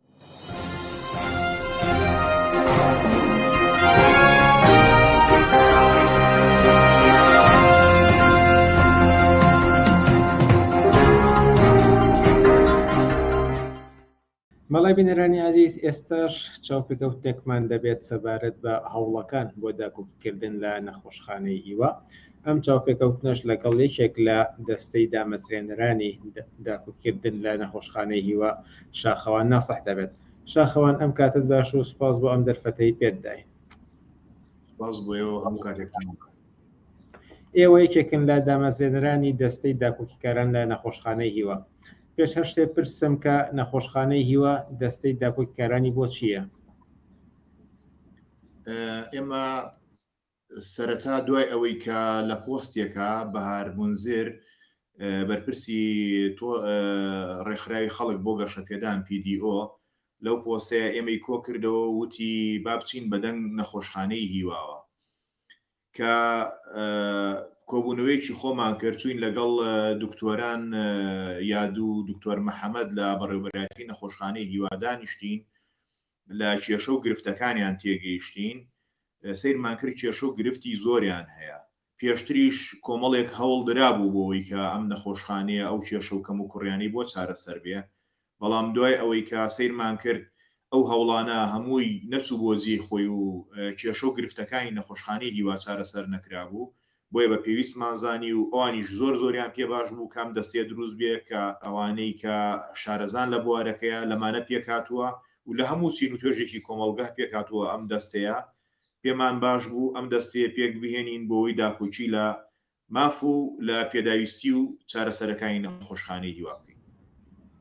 بەڵێ بینەرانی ئازیز ئێستاش چاوپێکەوتێکمان دەبێت سەبارەت بە هەوڵەکان بۆ داکۆکیکردن لە نەخۆشخانەی هیوا ئەم چاوپێکەوتنەش لەگەڵ یەکێک لە دەستەی دامەزرێنەرانی داکوکردن لە نەخۆشخانەی هیوا شاخەوان ناسح دەبێت. شاخەوان ئەم کاتت باش و سوپاس بۆ ئەم دەرفەتەی پێت داین. سوپاس بۆ ئێوە هەموو کاتێکتان بکات. ئێوە یەکێکن لە دامەزرێنەرانی دەستەی داکۆکیکاران لە نەخۆشخانەی هیوا. پێش هەر شتێ پرسم کە نەخۆشخانەی هیوا دەستەی داکۆکیکارانی بۆ چییە؟ ئێمە سەرەتا دوای ئەوەی کە لە پۆستێکا بەهار مونزر بەرپرسی تۆ ڕێکخراوی خەڵک بۆ گەشەپێدان PDO لەو پۆستەیە ئێمەی کۆ کردەوە و وتی با بچین بە دەنگ نەخۆشخانەی هیواوە کە کۆبوونەوەیەکی خۆمان کرد چوین لەگەڵ دکتۆران یادوو دکتۆر محەممەد لە بەڕێوبەرایەتی نەخۆشخانەی هیوا دانیشتین لە کێشە و گرفتەکانیان تێگەیشتین، سەیرمان کرد کێشە و گرفتی زۆریان هەیە، پێشتریش کۆمەڵێک هەوڵ درابوو بۆوەی کە ئەم نەخۆشخانەیە ئەو کێشە و کەموکوڕیانەی بۆ چارەسەر بێ، بەڵام دوای ئەوەی کە سەیرمان کرد ئەو هەوڵانە هەمووی نەچوو بۆ جێی خۆی و کێشە و گرفتەکانی نەخۆشخانەی هیوا چارەسەر نەکرابوو، بۆیە بە پێویستمان زانی و ئەوانیش زۆر زۆریان پێ باش بوو کە ئەم دەستەیە دروست بێ کە ئەوانەی کە شارەزان لە بوارەکەیە لەمانە پێک هاتووە و لە هەموو چین و توێژێکی کۆمەڵگه پێک هاتووە ئەم دەستەیە پێمان باش بوو ئەم دەستەیە پێک بهێنین بۆوەی داکۆکی لە ماف و لە پێداویستی و چارەسەرەکانی نەخۆشخانەی هیوا بکەین.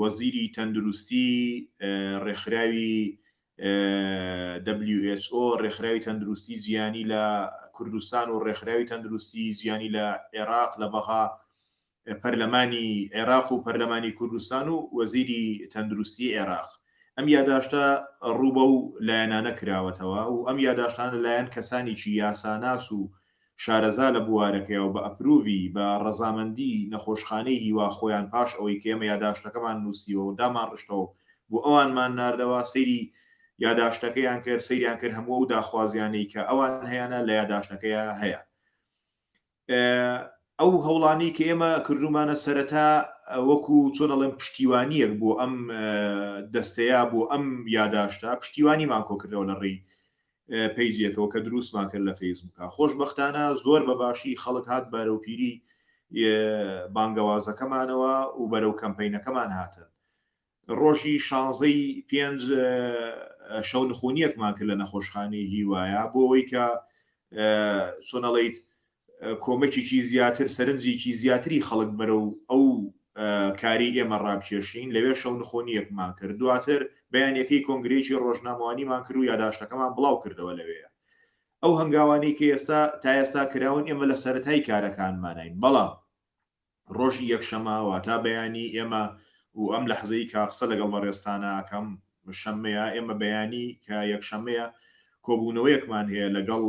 وەزیری تەندروستی ڕێکخراوی WHO ڕێکخراوی تەندروستی جیانی لە کوردستان و ڕێکخراوی تەندروستی جیانی لە عێراق لە بەغا پەرلەمانی عێراق و پەرلەمانی کوردستان و وەزیری تەندروستی عێراق ئەم یاداشتە ڕووبە و لایەنانە کراوەتەوە و ئەم یاداشتان لەلایەن کەسانێکی یاساناس و شارەزا لە بوارەکەیە و بە ئەپرووڤی، بە ڕەزامەندی، نەخۆشخانەی هیوا خۆیان پاش ئەوەی کە ئێمە یاداشتەکەمان نووسیوە و دامانڕشتەوە و بۆ ئەوانمان ناردەوە، سەیری یاداشتەکەیان کرد، سەیریان کرد هەموو ئەو داخوازییانەی کە ئەوان هەیانە لە یاداشتەکەیا هەیە. ئەو هەوڵانەی کە ئێمە کردوومانە سەرەتا وەکو چۆن ئەڵێم پشتیوانییەک بۆ ئەم دەستەیە، بۆ ئەم یاداشتە پشتیوانیمان کۆ کردەوە لە ڕێی پەیجێکەوە کە دروستمان کرد لە فەیسبووکا خۆشبەختانە زۆر بە باشی خەڵک هات بەرەو پیری بانگەوازەکەمانەوە و بەرەو کەمپینەکەمان هاتن ڕۆژی شانزەی پێنج شەو نخونیەکمان کرد لە نەخۆشخانەی هیوایە بۆ ئەوەی کە چۆنەڵیت کۆمەکێکی زیاتر، سەرنجێکی زیاتری خەڵک بەرەو ئەو کارەی ئێمە ڕابکێشین، لەوێ شەونخۆنییەکمان کرد، دواتر بەیانییەکەی کۆنگرەیەکی ڕۆژنامەوانیمان کرد و یاداشتەکەمان بڵاوکردەوە، لەوێ ئەو هەنگاوانەی کە ئێستا، تا ئێستا کراون، ئێمە لە سەرەتای کارەکانماناین، بەڵام. ڕۆژی یەکشەمە واتا بەیانی ئێمە و ئەم لەحزەی کە قسە لەگەڵ بەڕێزتانە ئەکەم شەمەیە، ئێمە بەیانی کە یەکشەمەیە کۆبوونەوەیەکمان هەیە لەگەڵ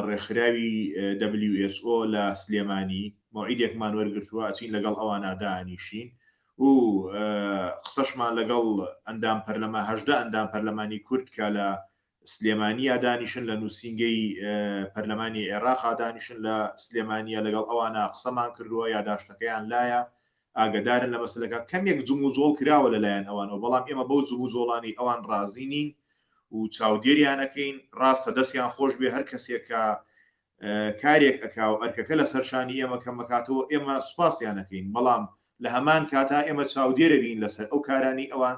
ڕێکخراوی who لە سلێمانی مەوعیدێکمان وەرگرتووە ئەچین لەگەڵ ئەوانە دانیشین و قسەشمان لەگەڵ ئەندام پەرلەما هەژدە ئەندام پەرلەمانی کورد کە لە سلێمانییا دانیشن لە نوسینگەی پەرلەمانی عێراقا دانیشن لە سلێمانیە لەگەڵ ئەوانا قسەمان کردوە یاداشتەکەیان لایە ئاگەدارن لە مەسەلەکە کەمێک جموجۆڵ کراوە لەلایەن ئەوانەوە بەڵام ئێمە بەو جموجۆڵانەی ئەوان ڕازی نین و چاودێریان ئەکەین ڕاستە دەستیان خۆش بێ هەر کەسێک کە کارێک ئەکا و ئەرکەکە لە سەرشانی ئێمە کەم ئەکاتەوە ئێمە سوپاسیان ئەکەین بەڵام لە هەمان کاتا ئێمە چاودێرە بین لەسەر ئەو کارانەی ئەوان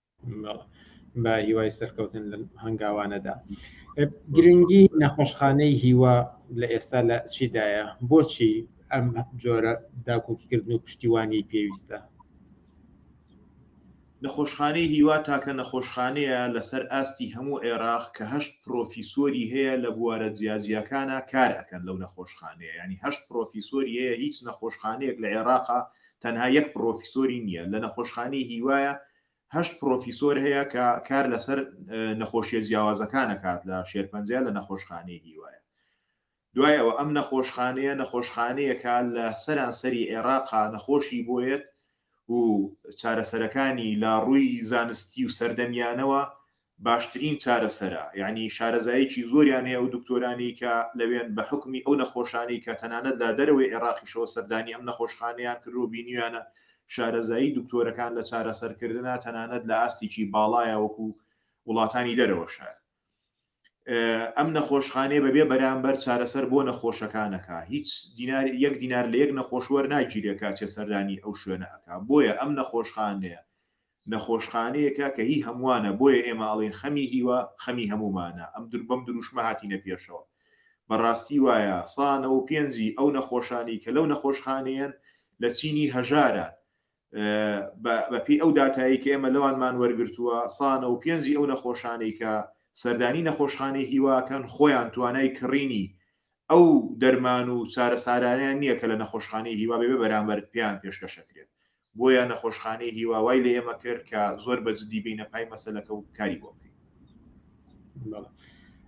بە هیوای سەرکەوتن لە هەنگاوانەدا گرنگی نەخۆشخانەی هیوا لە ئێستا لە چیدایە بۆچی ئەم جۆرە داکۆکیکردن و پشتیوانی پێویستە نەخۆشخانەی هیوا تاکە نەخۆشخانەیە لەسەر ئاستی هەموو عێراق کە هەشت پرۆفیسۆری هەیە لە بوارە جیاجیاکانە کار ئەکەن لەو نەخۆشخانەیە ینی هەشت پرۆفیسۆری هەیە هیچ نەخۆشخانەیەک لە عێراقا تەنها یەک پڕۆفیسۆری نییە لە نەخۆشخانەی هیوایە هەشت پڕۆفیسۆر هەیە کە کار لەسەر نەخۆشیە جیاوازەکانەکات لە شێرپەنجە لە نەخۆشخانەی هیوایە دوای ئەوە ئەم نەخۆشخانەیە نەخۆشخانەیەکە لە سەرانسەری عێراقا نەخۆشی بۆیەت و چارەسەرەکانی لە ڕووی زانستی و سەردەمیانەوە باشترین چارەسەرە یانی شارەزایەکی زۆریان هەیە ئەو دکتۆرانەی کە لەوێن بە حوکمی ئەو نەخۆشانەی کە تەنانەت لە دەرەوەی عێراقیشەوە سەردانی ئەم نەخۆشخانەیان کردوە بینیویانە شارەزایی دکتۆرەکان لە چارەسەرکردنا تەنانەت لە ئاستێکی باڵایە وەکو وڵاتانی دەرەوەشە ئەم نەخۆشخانەیە بەبێ بەرامبەر چارەسەر بۆ نەخۆشەکانەکە هیچ دینار یەک دینار لە یەک نەخۆشوەر ناگیرێکە چێ سەردانی ئەو شوێنە ئەکا بۆیە ئەم نەخۆشخانەیە نەخۆشخانەیەکە کە هی هەموانە بۆیە ئێمە ئەڵێین خەمی هیوا خەمی هەمومانە ئەم دور بەم دروشمە هاتینە پێشەوە بەڕاستی وایە سا نەوە و پێنجی ئەو نەخۆشانەی کە لەو نەخۆشخانەیەن لە چینی هەژاران بە بە پێی ئەو داتایی کە ئێمە لەوانمان وەرگرتووە سا نەوە و پێنجی ئەو نەخۆشانەی کە سەردانی نەخۆشخانەی هیواکەن خۆیان توانای کڕینی ئەو دەرمان و چارەسارانەیان نییە کە لە نەخۆشخانەی هیوا بێ بەرامبەر پێیان پێشکەشەکرێت بۆیە نەخۆشخانەی هیوا وای لە ئێمە کرد کە زۆر بە جدی بینە پای مەسەلەکە و کاری بۆ بکەین.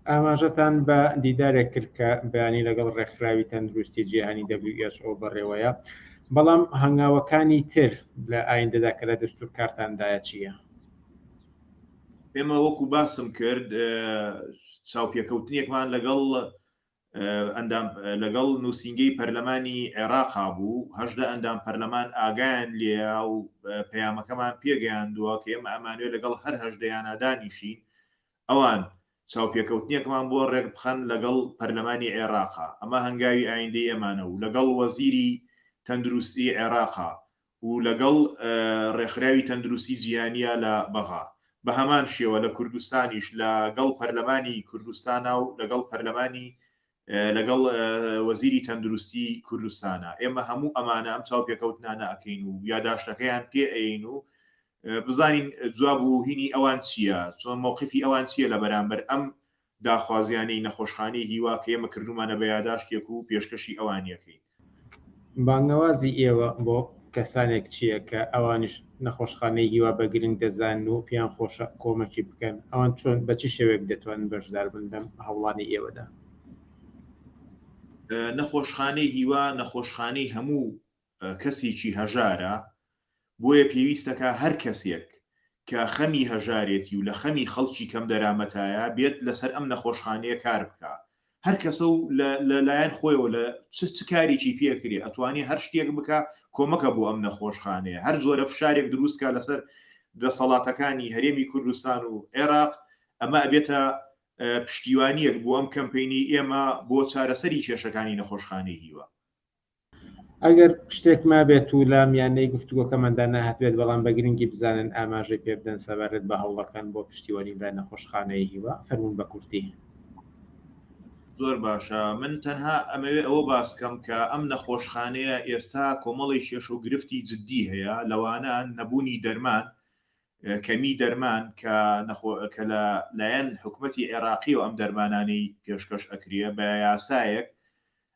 ئاماژەتان بە دیدارێک کرد کە بەیانی لەگەڵ ڕێکخراوی تەندروستی جیهانی WHO بەڕێوەیە، بەڵام هەنگاوەکانی تر لە ئایندەدا کە لە دەستور کارتاندایە چییە؟ ئێمە وەکو باسم کرد چاوپێکەوتنێکمان لەگەڵ ئەندام لەگەڵ نووسینگەی پەرلەمانی عێراقا بوو، هەژدە ئەندام پەرلەمان ئاگایان لێیە و پەیامەکەمان پێگەیاندووە کە ئێمە ئەمانەوێت لەگەڵ هەر هەژدەیانا دانیشین، ئەوان چاوپێکەوتنێکمان بۆ رێکبخەن لەگەڵ پەرلەمانی عێراقا، ئەمە هەنگاوی ئایندەی ئێمانە و لەگەڵ وەزیری تەندروستی عێراقا و لەگەڵ ڕێکخراوی تەندروستی جیهانییە لە بەغا، بە هەمان شێوە لە کوردستانیش لە گەڵ پەرلەمانی کوردستانا و لەگەڵ پەرلەمانی لەگەڵ وەزیری تەندروستی کوردستانا، ئێمە هەموو ئەمانە ئەم چاوپێکەوتنانە ئەکەین و یاداشتەکەیان پێ ئەیەین و بزانین جواب و هینی ئەوان چییە، چۆن مەوقفی ئەوان چییە لە بەرامبەر ئەم داخوازیانەی نەخۆشخانەی هیوا کە ئێمە کردوومانە بە یاداشتێک و پێشکەشی ئەوانی ئەکەین. بانگەوازی ئێوە بۆ کەسانێک چییە کە ئەوانیش نەخۆشخانەی هیوا بە گرنگ دەزانن و پێیان خۆشە کۆمەکی بکەن؟ ئەوان چۆن، بە چ شێوەیەک دەتوانن بەشدار بن لەم هەوڵانەی ئێوەدا؟ نەخۆشخانەی هیوا نەخۆشخانەی هەموو کەسیکی هەژارە بۆیە پێویستەکا هەر کەسێک کە خەمی هەژارێتی و لە خەمی خەڵکی کەم دەرامەتایە بێت لەسەر ئەم نەخۆشخانەیە کار بکا هەر کەسە و لە لە لایەن خۆیەوە لە چ چ کاریکی پێ کرێ ئەتوانێ هەر شتێک بکا کۆمەکە بۆ ئەم نەخۆشخانەیە هەر جۆرە فشارێک دروست کا لەسەر دەسەڵاتەکانی هەرێمی کوردستان و عێراق ئەمە ئەبێتە پشتیوانیەک بۆ ئەم کەمپەینەی ئێمە بۆ چارەسەری کێشەکانی نەخۆشخانەی هیوا. ئەگەر شتێک مابێت و لە میانەی گفتوگۆکەماندا نەهاتبێت، بەڵام بە گرنگی بزانن ئاماژەی پێ بدەن سەبارەت بە هەوڵەکان بۆ پشتیوانی لە نەخۆشخانەی هیوا. فەرموون بە کورتی. زۆر باشە، من تەنها ئەمەوێ ئەوە باس کەم کە ئەم نەخۆشخانەیە ئێستا کۆمەڵی کێشە و گرفتی جددی هەیە، لەوانە نەبوونی دەرمان، کەمیی دەرمان کە نەخۆ کە لە لایەن حکومەتی عێراقییەوە ئەم دەرمانانەی پێشکەش ئەکرێ بە یاسایەک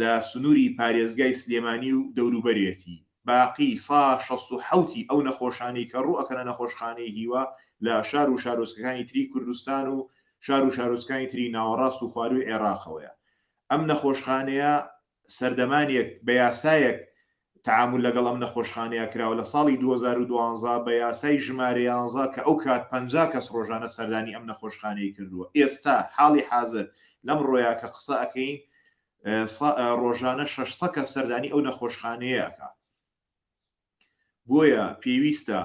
لە سنووری پارێزگای سلێمانی و دەوروبەرێتی باقی سا شەست و حەوت ی ئەو نەخۆشانەی کە ڕوو ئەکەنە نەخۆشخانەی هیوا لە شار و شارۆچکەکانی تری کوردستان و شار و شارۆچکانی تری ناوەڕاست و خوارووی عێڕاقەوەیە ئەم نەخۆشخانەیە سەردەمانێک بە یاسایەک تەعامول لەگەڵ ئەم نەخۆشخانەیە کراوە لە ساڵی دوو هەزار و دوازدە بە یاسای ژمارە یانزە کە ئەو کات پەنجا کەس ڕۆژانە سەردانی ئەم نەخۆشخانەی کردووە ئێستا حاڵی حازر لەم ڕۆیا کە قسە ئەکەین سە ڕۆژانە شەش سە کەس سەردانی ئەو نەخۆشخانەیە ئەکا بۆیە پێویستە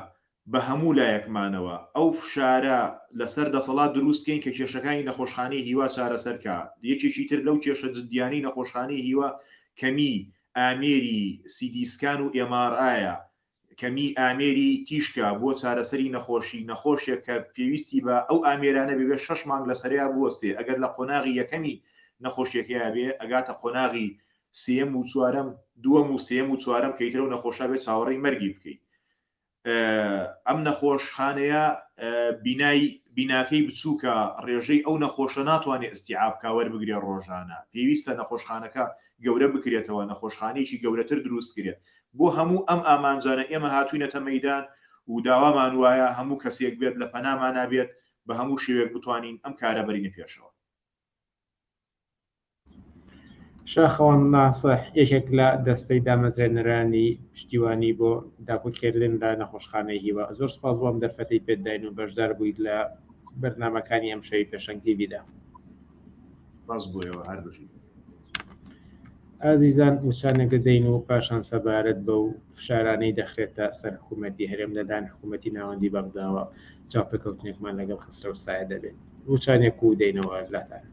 بە هەموو لایەکمانەوە ئەو فشارە لەسەر دەسەڵات دروست کەین کە کێشەکانی نەخۆشخانەی هیوا چارەسەر کا. یەکێکی تر لەو کێشە جدیانەی نەخۆشخانەی هیوا کەمیی ئامێری سی تی سکان و ئێم ئاڕ ئایە، کەمیی ئامێری تیشکە بۆ چارەسەری نەخۆشی، نەخۆشێک کە پێویستی بە ئەو ئامێرانە بێ بێ شەش مانگ لەسەریا بوەستێ ئەگەر لە قۆناغی یەکەمی نەخۆشیەکەیا بێ ئەگاتە قۆناغی سێیەم و چوارەم دووەم و سێیەم و چوارەم کە ئیتر ئەو نەخۆشە بێ چاوەڕێی مەرگی بکەی ئەم نەخۆشخانەیە بینای بیناکەی بچووکە ڕێژەی ئەو نەخۆشە ناتوانێت ئەستیعابکە وەربگرێ ڕۆژانە پێویستە نەخۆشخانەکە گەورە بکرێتەوە نەخۆشخانەیەکی گەورەتر دروستکرێت بۆ هەموو ئەم ئامانجانە ئێمە هاتوینەتە مەدان و داوامان وایە هەموو کەسێک بێت لە پەنامانابێت بە هەموو شێوێک بتوانین ئەم کارە بەرینە پێشەوە. شاخەوان ناسح یەکێک لە دەستەی دامەزرێنەرانی پشتیوانی بۆ داکوکێردن لە نەخۆشخانەی هیوا زۆر سپاس بۆ ئەم دەرفەتەی پێت داین و بەشدار بوویت لە بەرنامەکانی ئەم شەوی پێشەنگ تیڤیدا باز بۆیەوە هەر بژی ئازیزان وچانێک دەدەین و پاشان سەبارەت بە و فشارانەی دەخرێتە سەر حکوومەتتی هەرێم لەدان حکوومەتتی ناوەندی بەغداوە چاپێکەوتنێکمان لەگەڵ خسرە و سایە دەبێت وچانێک و دەینەوە لاتان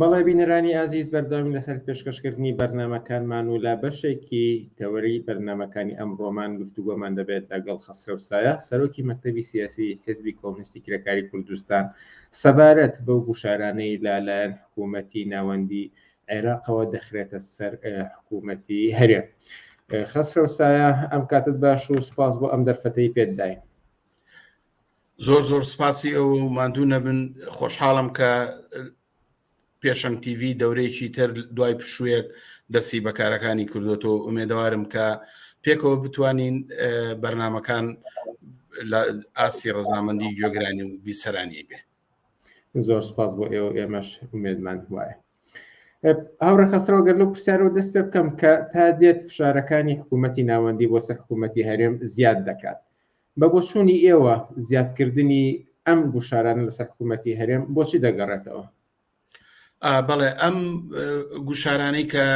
بەڵێ بینەرانی ئازیز بەردەوامی لەسەر پێشکەشکردنی بەرنمەکانمان و لە بەشێکی تەوەری بەرنمەکانی ئەم ڕۆمان گفتوگۆمان دەبێت لەگەڵ خەسرەوسایە سەرۆکی مەکتتەبی سیاسی حزبی کۆمنیستی کرێکاری کوردستان سەبارەت بەو گوشارانەی لە لایەن حکوومەتی ناوەندی عێراقەوە دەخرێتە سەر حکوومەتی هەرێم خەسرەو سایە ئەم کاتت باش و سپاس بۆ ئەم دەرفەتەی پێت داین زۆر زۆر سپاسی ئەو ماندوو نەبن خۆشحاڵم کە پێشەنگ تیڤی دەورەیەکی تر دوای پشوویەک دەستی بەکارەکانی کردوەوە ئومێدەوارم کە پێکەوە بتوانین بەرنمەکان لە ئاستی ڕزامەندی گوێگرانی و بیسەرانی بێ زۆر سپاس بۆ ئێوە ئێمەش ئومێدمان وایە هاوڕە خەسرەوە گەر لەو پرسیارەوە دەست پێ بکەم کە تا دێت فشارەکانی حکوومەتتی ناوەندی بۆ سەر حکوومەتتی هەرێم زیاد دەکات بە بۆچوونی ئێوە زیادکردنی ئەم گوشارانە لەسەر حکوومەتی هەرێم بۆچی دەگەڕێتەوە؟ بەڵێ ئەم گوشارانەی کە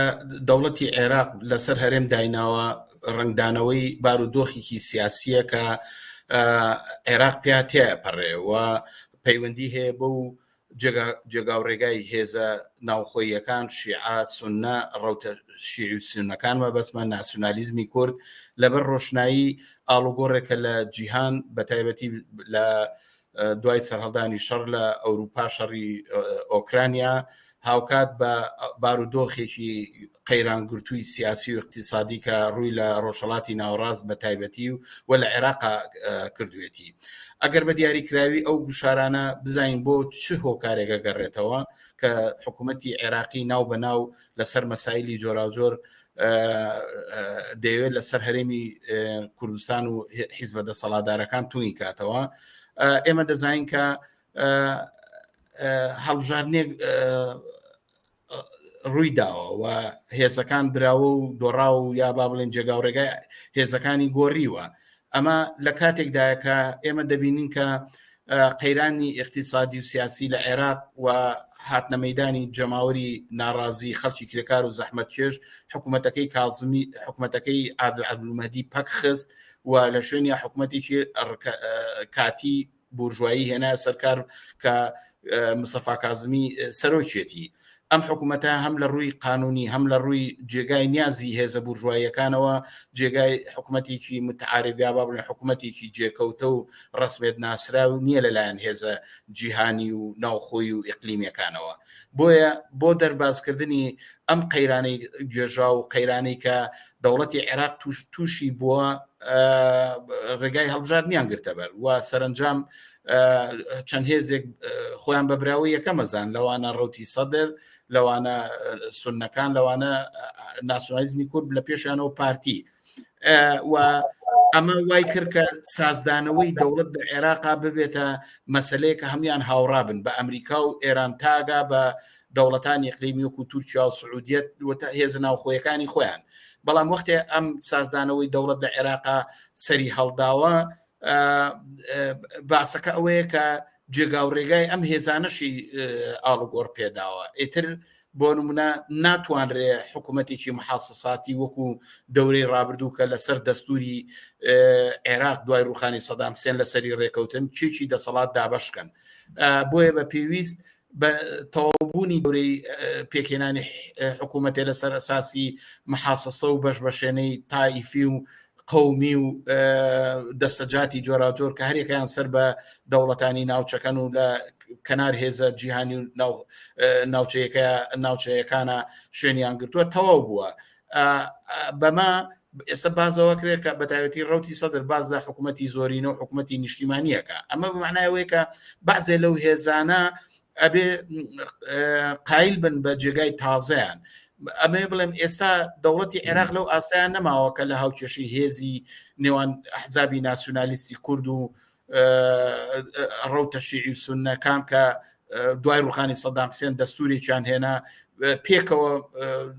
دەوڵەتی عێراق لەسەر هەرێم دایناوە ڕنگدانەوەی بارودۆخێکی سیاسیە کە عێراق پێاتێ پەڕێ و پەیوەندی هەیە بەو جێگاوڕێگای هێزە ناوخۆییەکان، شیعە، سوننە، ڕەوتە شیعی و سوننەکان مەبەستمە، ناسیونالیزمی کورد، لەبەر ڕۆشنایی ئاڵوگۆڕێکە لە جیهان، بەتایبەتی لە دوای سەرهەڵدانی شەڕ لە ئەوروپا، شەڕی ئۆکرانیا، هاوکات بە بارودۆخێکی قەیرانگرتووی سیاسی و اقتصادی کە ڕووی لە ڕۆژهڵاتی ناوەڕاست بە تایبەتی و و لە عێراق کردوێتی ئەگەر بە دیاریکراوی ئەو گوشارانە بزانین بۆ چ هۆکارێکە گەڕێتەوە کە حکوومەتتی عێراقی ناو بە ناو لەسەر مەسایلی جۆراوجۆر دەیەوێت لەسەر هەرێمی کوردستان و حیزبە دەسەڵادارەکان توی کاتەوە ئێمە دەزانین کە هەڵبژاردنێک ڕووی داوە و هێزەکان براوە و دۆڕاو و یا با بڵێن جێگا و ڕێگای هێزەکانی گۆڕیوە ئەمە لە کاتێکدایە کە ئێمە دەبینین کە قەیرانی اقتصادی و سیاسی لە عێراق و هاتنە مەدانی جەماوەری ناڕازی خەڵکی کرێکار و زەحمەت چێژ حکوومەتەکەی کازمی حکوومەتەکەی عادل عبلومەدی پەکخست و لە شوێنی حکوومەتێکی کاتی بورژوایی هێنا سەرکار کە مسەفا کازمی سەرۆکێتی ئەم حکوومەتە هەم لە ڕووی قانونی هەم لە ڕووی جێگای نیازی هێزە بورژواییەکانەوە جێگای حکوومەتێکی متعاعربیا با بڵێن حکوومەتێکی جێکەوتە و ڕسمێت ناسرا و نییە لەلایەن هێزە جیهانی و ناوخۆی و ئیقلیمەکانەوە بۆیە بۆ دەربازکردنی ئەم قەیرانەی گێژا و قەیرانی کە دەوڵەتی عێراق توش تووشی بووە ڕێگای هەڵبژاردنیان گرتەبەر و سەرنجام چەند هێزێک خۆیان بە براوە یەکەمەزان لەوانە ڕوتی سەدر لەوانە سنەکان لەوانە ناسۆنالیزمی کورد لە پێشانەوە پارتی و ئەمە وای کرد کە سازدانەوەی دەوڵەت بە عێراقا ببێتە مەسلەیە کە هەموان هاوڕابن بە ئەمریکا و ئێران تاگا بە دەوڵەتانی ئیقلیمی وەکو تورکیا و سعودیە و هێزە ناوخۆیەکانی خۆیان بەڵام وەختێ ئەم سازدانەوەی دەوڵەت لە عێراقا سەری هەڵداوە باسەکە ئەوەیە کە جێگا و ڕێگای ئەم هێزانەشی ئاڵوگۆڕ پێداوە ئیتر بۆ نمونە ناتوانرێ حکوومەتێکی محاسەساتی وەکو دەورەی ڕابردوو کە لەسەر دەستوری عێراق دوای ڕوخانی سەدام سێن لەسەری ڕێکەوتن چێکی دەسەڵات دابشکەن بۆیە بە پێویست بە تەواوبوونی دەورەی پێکهێنانی حکوومەتێ لەسەر ئەساسی محاسەسە و بەشبەشێنەی تائیفی و قومی و دەسەجاتی جۆراجۆر کە هەرێکیان سەر بە دەوڵەتانی ناوچەکەن و لە کەنار هێزە جیهانی و ناوچەیەەکە ناوچەیەکانە شوێنیان گرتووە تەواو بووە بەمە ئێستا بازەوە کرێ کە بەتاوێتی ڕوتی سەدر باز لە حکوومەتتی زۆرینە و حکوومەتتی نیشتیمانیەکە ئەمە بمانایەوەی کە بازێ لەو هێزانە ئەبێ قایل بن بە جێگای تازەیان ئەمێ بڵێم ئێستا دەوڵەتی عێراق لەو ئاسایان نەماوە کە لە هاوکێشی هێزی نێوان حزابی ناسیۆنالیستی کورد و ڕوتە شیعی و سونەکان کە دوای ڕوخانی سەدام حسێن دەستورێکیان هێنا پێکەوە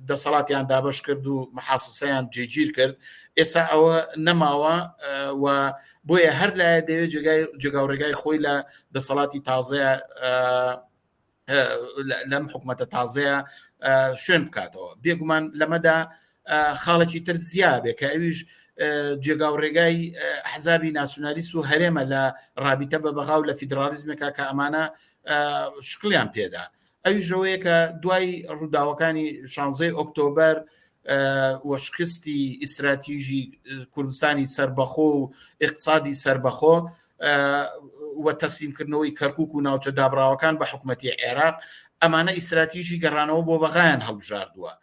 دەسەڵاتیان دابش کرد و محاسسەیان جێگیر کرد ئێستا ئەوە نەماوە و بۆیە هەر لایە دەوێت جێگای جێگا و ڕێگای خۆی لە دەسەڵاتی تازەیە لەم حکوومەتە تازەیە شوێن بکاتەوە بێگومان لەمەدا خاڵێکی تر زیابێ کە ئەویش جێگا و ڕێگای حەزابی ناسیۆنالیست و هەرێمە لە ڕابیتە بە بەغااو لە فیدراالیزمێکا کە ئەمانە شکلیان پێدا ئەوی ژەوەیە کە دوای ڕووداوەکانی شانزەی ئۆکتۆبر وەشکستی ئیستراتیژی کوردستانی سربەخۆ و اقتصادی سربەخۆ و تەسلیمکردنەوەی کەرکوک و ناوچە دابڕاوەکان بە حکوومەتی عێراق ئەمانە ئیسراتیژی گەڕانەوە بۆ بەغایان هەڵبژاردووە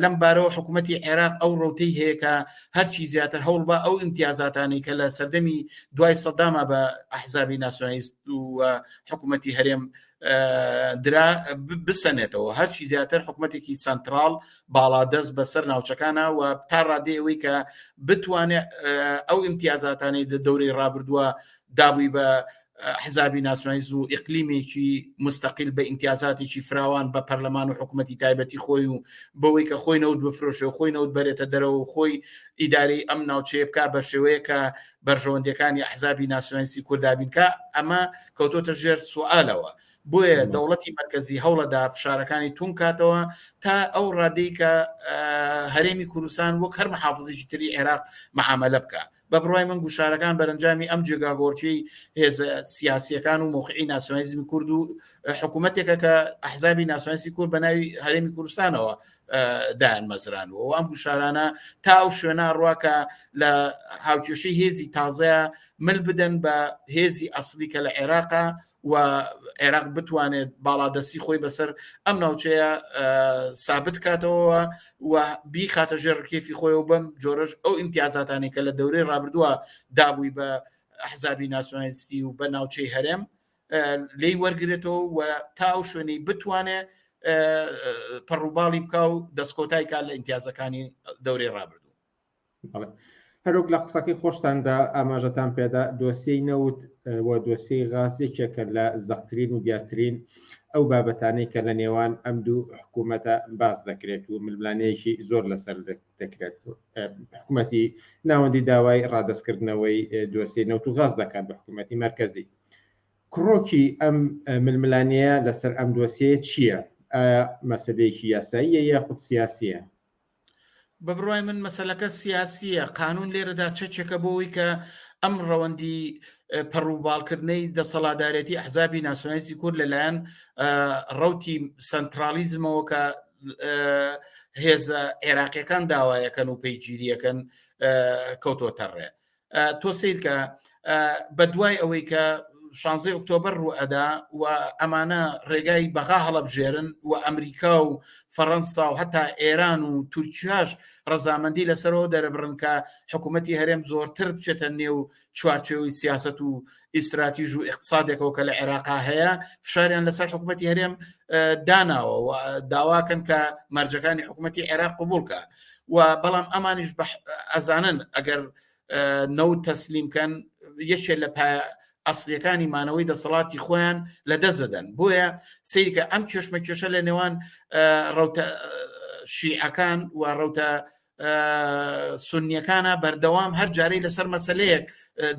لەم بارەوە حکوومەتی عێراق ئەو ڕوتەی هەیەکە هەرچی زیاتر هەوڵ بە ئەو امتیازاتانی کە لە سەردەمی دوای سەداما بە ئەحزابی ناسیۆنیست و حکوومەتی هەرێم درا بسەنێتەوە هەرچی زیاتر حکوومەتێکی سنترال باڵا دەست بەسەر ناوچەکانە و تا ڕادێەوەی کە بتوانێت ئەو امتیازاتانەی دە دەوری ڕابردووە دابووی بە حزابی ناسنایز و ئەقلیمێکی مستەقل بە ئیمتیازاتێکی فراوان بە پەرلەمان و حکوومەتتی تایبەتی خۆی و بەوەی کە خۆی نەوت بفرۆشە و خۆی نەوت بەرێتە دەرەوە خۆی ئیداری ئەم ناوچەیە بک بە شێوەیە کە بەرژەوەندیەکانی ئەحزابی ناسیۆنالیستی کوردا بین کە ئەمە کەوتۆتە ژێر سوالەوە بۆیە دەوڵەتی مەرکزی هەوڵەدا فشارەکانی تون کاتەوە تا ئەو ڕادەی کە هەرێمی کوردستان وەک هەر محافزیی تری عێراق معاملە بکە بە بڕای من گوشارەکان بەرەنجامی ئەم جێگاگۆرچی هێزە سیاسیەکان و مۆخی ناسیۆنیزمی کورد و حکوومەتێکە کە ئەحزابی ناسیۆنسی کورد بە ناوی هەرێمی کوردستانەوە دایان مەزرانەوە و ئەم گوشارانە تا ئەو شوێنە ڕواکە لە هاوکێشەی هێزی تازەیە مل بدەن بە هێزی ئەسلی کە لە عێراقا و عێراق بتوانێت باڵادەستی خۆی بەسەر ئەم ناوچەیە سابت کاتەوە و بیخاتە ژێر ڕکێفی خۆی و بەم جۆرەش ئەو ئیمتیازاتانی کە لە دەورەی ڕابردووە دابووی بە حزابی ناسیۆنالیستی و بە ناوچەی هەرێم لێی وەرگێتەوە و تا ئەو شوێنی بتوانێ پەڕوباڵی بکە و دەستکۆتای کار لە ئیمتیازەکانی دەورەی ڕابردوو هەروک لە قسەکەی خۆشتاندا ئاماژەتان پێدا دۆسیی نەوت و دۆسیی غاز یەکێکە لە زەختترین و دیارترین ئەو بابەتانەی کە لە نێوان ئەم دوو حکوومەتە باز دەکرێت و ململانەیەکی زۆر لەسەر دەکرێت حکوومەتی ناوەندی داوای ڕادستکردنەوەی دۆسیی نەوت و غاز دەکات بە حکوومەتی مرکزی کڕۆکی ئەم ململانێیە لەسەر ئەم دۆسیەیە چییە؟ ئایا مەسەلەیەکی یاساییە یاخود سیاسییە؟ بە بڕوای من مەسەلەکە سیاسییە، قانوون لێرەدا چەکێکە بۆ ئەوەی کە ئەم ڕەوەندی پەڕوباڵکردنەی دەسەڵاتدارێتی ئەحزابی ناسیۆنالیستی کورد لەلایەن ڕەوتی سەنترالیزمەوە کە هێزە عێراقیەکان داوایەکەن و پەیگیریەکەن کەوتۆتە ڕێ تۆ سیرکە بەدوای ئەوەی کە شانزی ئۆکتۆبر ڕوو ئەدا و ئەمانە ڕێگای بەغا هەڵەبژێرن و ئەمریکا و فەڕەنسا و هەتا ئێران و تورکیاش ڕەزامەندی لەسەرەوە دەرەبڕن کە حکوومەتتی هەرێم زۆرتر بچێتە نێو چوارچەوەی سیاست و ئیستراتیژ و اقتصادێکەوە کە لە عێراقا هەیە فشاریان لەسەر حکوومەتتی هەرێم داناوە و داواکەن کە مەرجەکانی حکوومەتتی عێراق قوبولکە و بەڵام ئەمانیش ئەزانن ئەگەر نەو تەسلیمکەن یەکێ لە پایە ئەسلەکانی مانەوەی دەسەڵاتی خۆیان لە دەزدەن بۆیە سیرکە ئەم کێشمە کێشە لە نێوان ڕوتە شیعەکان و ڕوتە سنیەکانە بەردەوام هەر جارەی لەسەر مەسلەیەک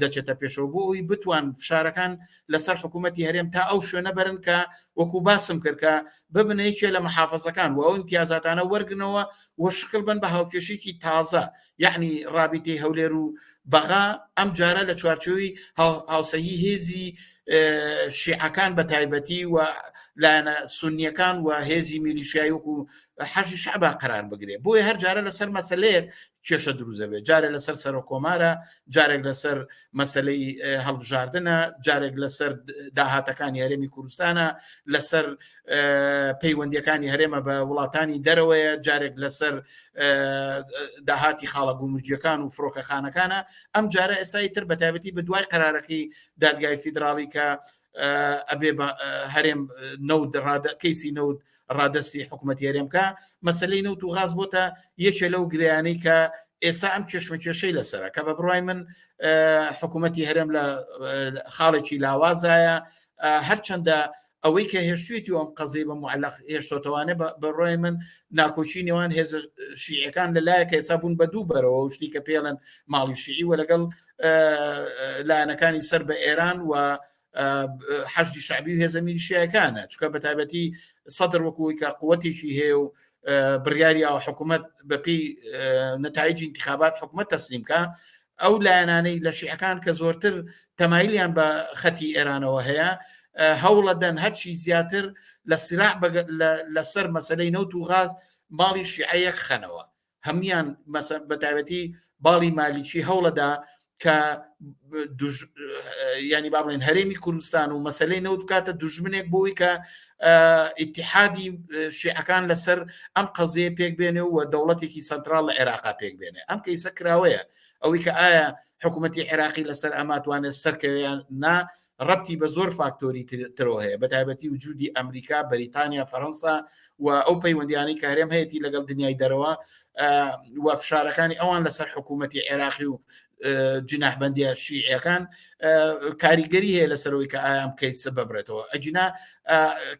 دەچێتە پێشەوە بۆ ئەوی بتوان فشارەکان لەسەر حکوومەتتی هەرێم تا ئەو شوێنە بەرن کە وەکو باسم کردکە ببنەیەکێ لە محافزەکان و ئەو امتیازاتانە وەرگنەوە و شکل بن بە هاوکێشێکی تازە یعنی رابیتی هەولێر و بەغا ئەم جارە لە چوارچووی هاوسەیی هێزی شیعەکان بە تایبەتی و لایەنە سنیەکان و هێزی میلیشیایی و حەشی شعبا قرار بگرێت بۆیە هەر جارە لەسەر مەسلەیەک کێشە دروزەبێت جارێک لەسەر سەرۆ کۆمارە جارێک لەسەر مەسلەی هەڵبژاردنە جارێک لەسەر داهاتەکانی هەرێمی کوردستانە لەسەر پەیوەندیەکانی هەرێمە بە وڵاتانی دەرەوەیە جارێک لەسەر داهاتی خاڵە گومرجیەکان و فڕۆکەخانەکانە ئەم جارە ئێسایی تر بەتابەتی بە دوای قرارەکەی دادگای فیدراڵی کە ئەبێ هەرێم نەود کەیسی نەود ڕادستی حکوومەتی هەرێمکە مەسلەی نەوت و غاز بۆتە یەکێ لەو گریانەی کە ئێستا ئەم کێشمە کێشەی لەسرە کە بە بڕای من حکوومەتتی هەرێم لە خاڵێکی لاوازایە هەرچەندە ئەوەی کە هێشتێتی ئەم قەزی بە معلق هێشتۆتەوانێ بەڕۆی من ناکۆچی نێوان هێز شیعەکان لە لایەکە ئێسا بوون بە دوو بەرەوە شتی کە پێڵن ماڵی شیعی وە لەگەڵ لایەنەکانی سەر بە ئێران و حەشدی شعبی و هێزە میلیشیایەکانە چکە بە تایبەتی سەدر وەکوی کە قوەتێکی هەیە و بڕیاری ئەو حکوومەت بەپی نەتایجی انتخابات حکوومەت تەسلیمکە ئەو لایەنانەی لە شیعەکان کە زۆرتر تەمایلیان بە خەتی ئێرانەوە هەیە هەوڵە دەن هەرچی زیاتر لە سلاح لەسەر مەسلەی نەوت و غاز ماڵی شیعەیەک خەنەوە هەموان بەتابەتی باڵی مالیکی هەوڵەدا کە ینی بابڵین هەرێمی کوردستان و مەسلەی نەوت بکاتە دژمنێک بۆی کە ئیتحادی شیعەکان لەسەر ئەم قەزیە پێک بێنێ و دەوڵەتێکی سنترال لە عێراقا پێک بێنێ ئەم کەیسە کراوەیە ئەوەی کە ئایا حکوومەتتی عێراقی لەسەر ئەماتوانێت سەرکەویان نا ڕەبتی بە زۆر فاکتۆری ترەوە هەیە، بەتایبەتی وجودی ئەمریکا، بەریتانیا، فەرەنسا و ئەو پەیوەندیانەی کە هەرێم هەیەتی لەگەڵ دنیای دەرەوە و فشارەکانی ئەوان لەسەر حکوومەتی عێراقی و جناحبندیە شیعەکان کاریگەری هەیە لەسەرەوەی کە ئایام کەیسە ببرێتەوە ئەجینا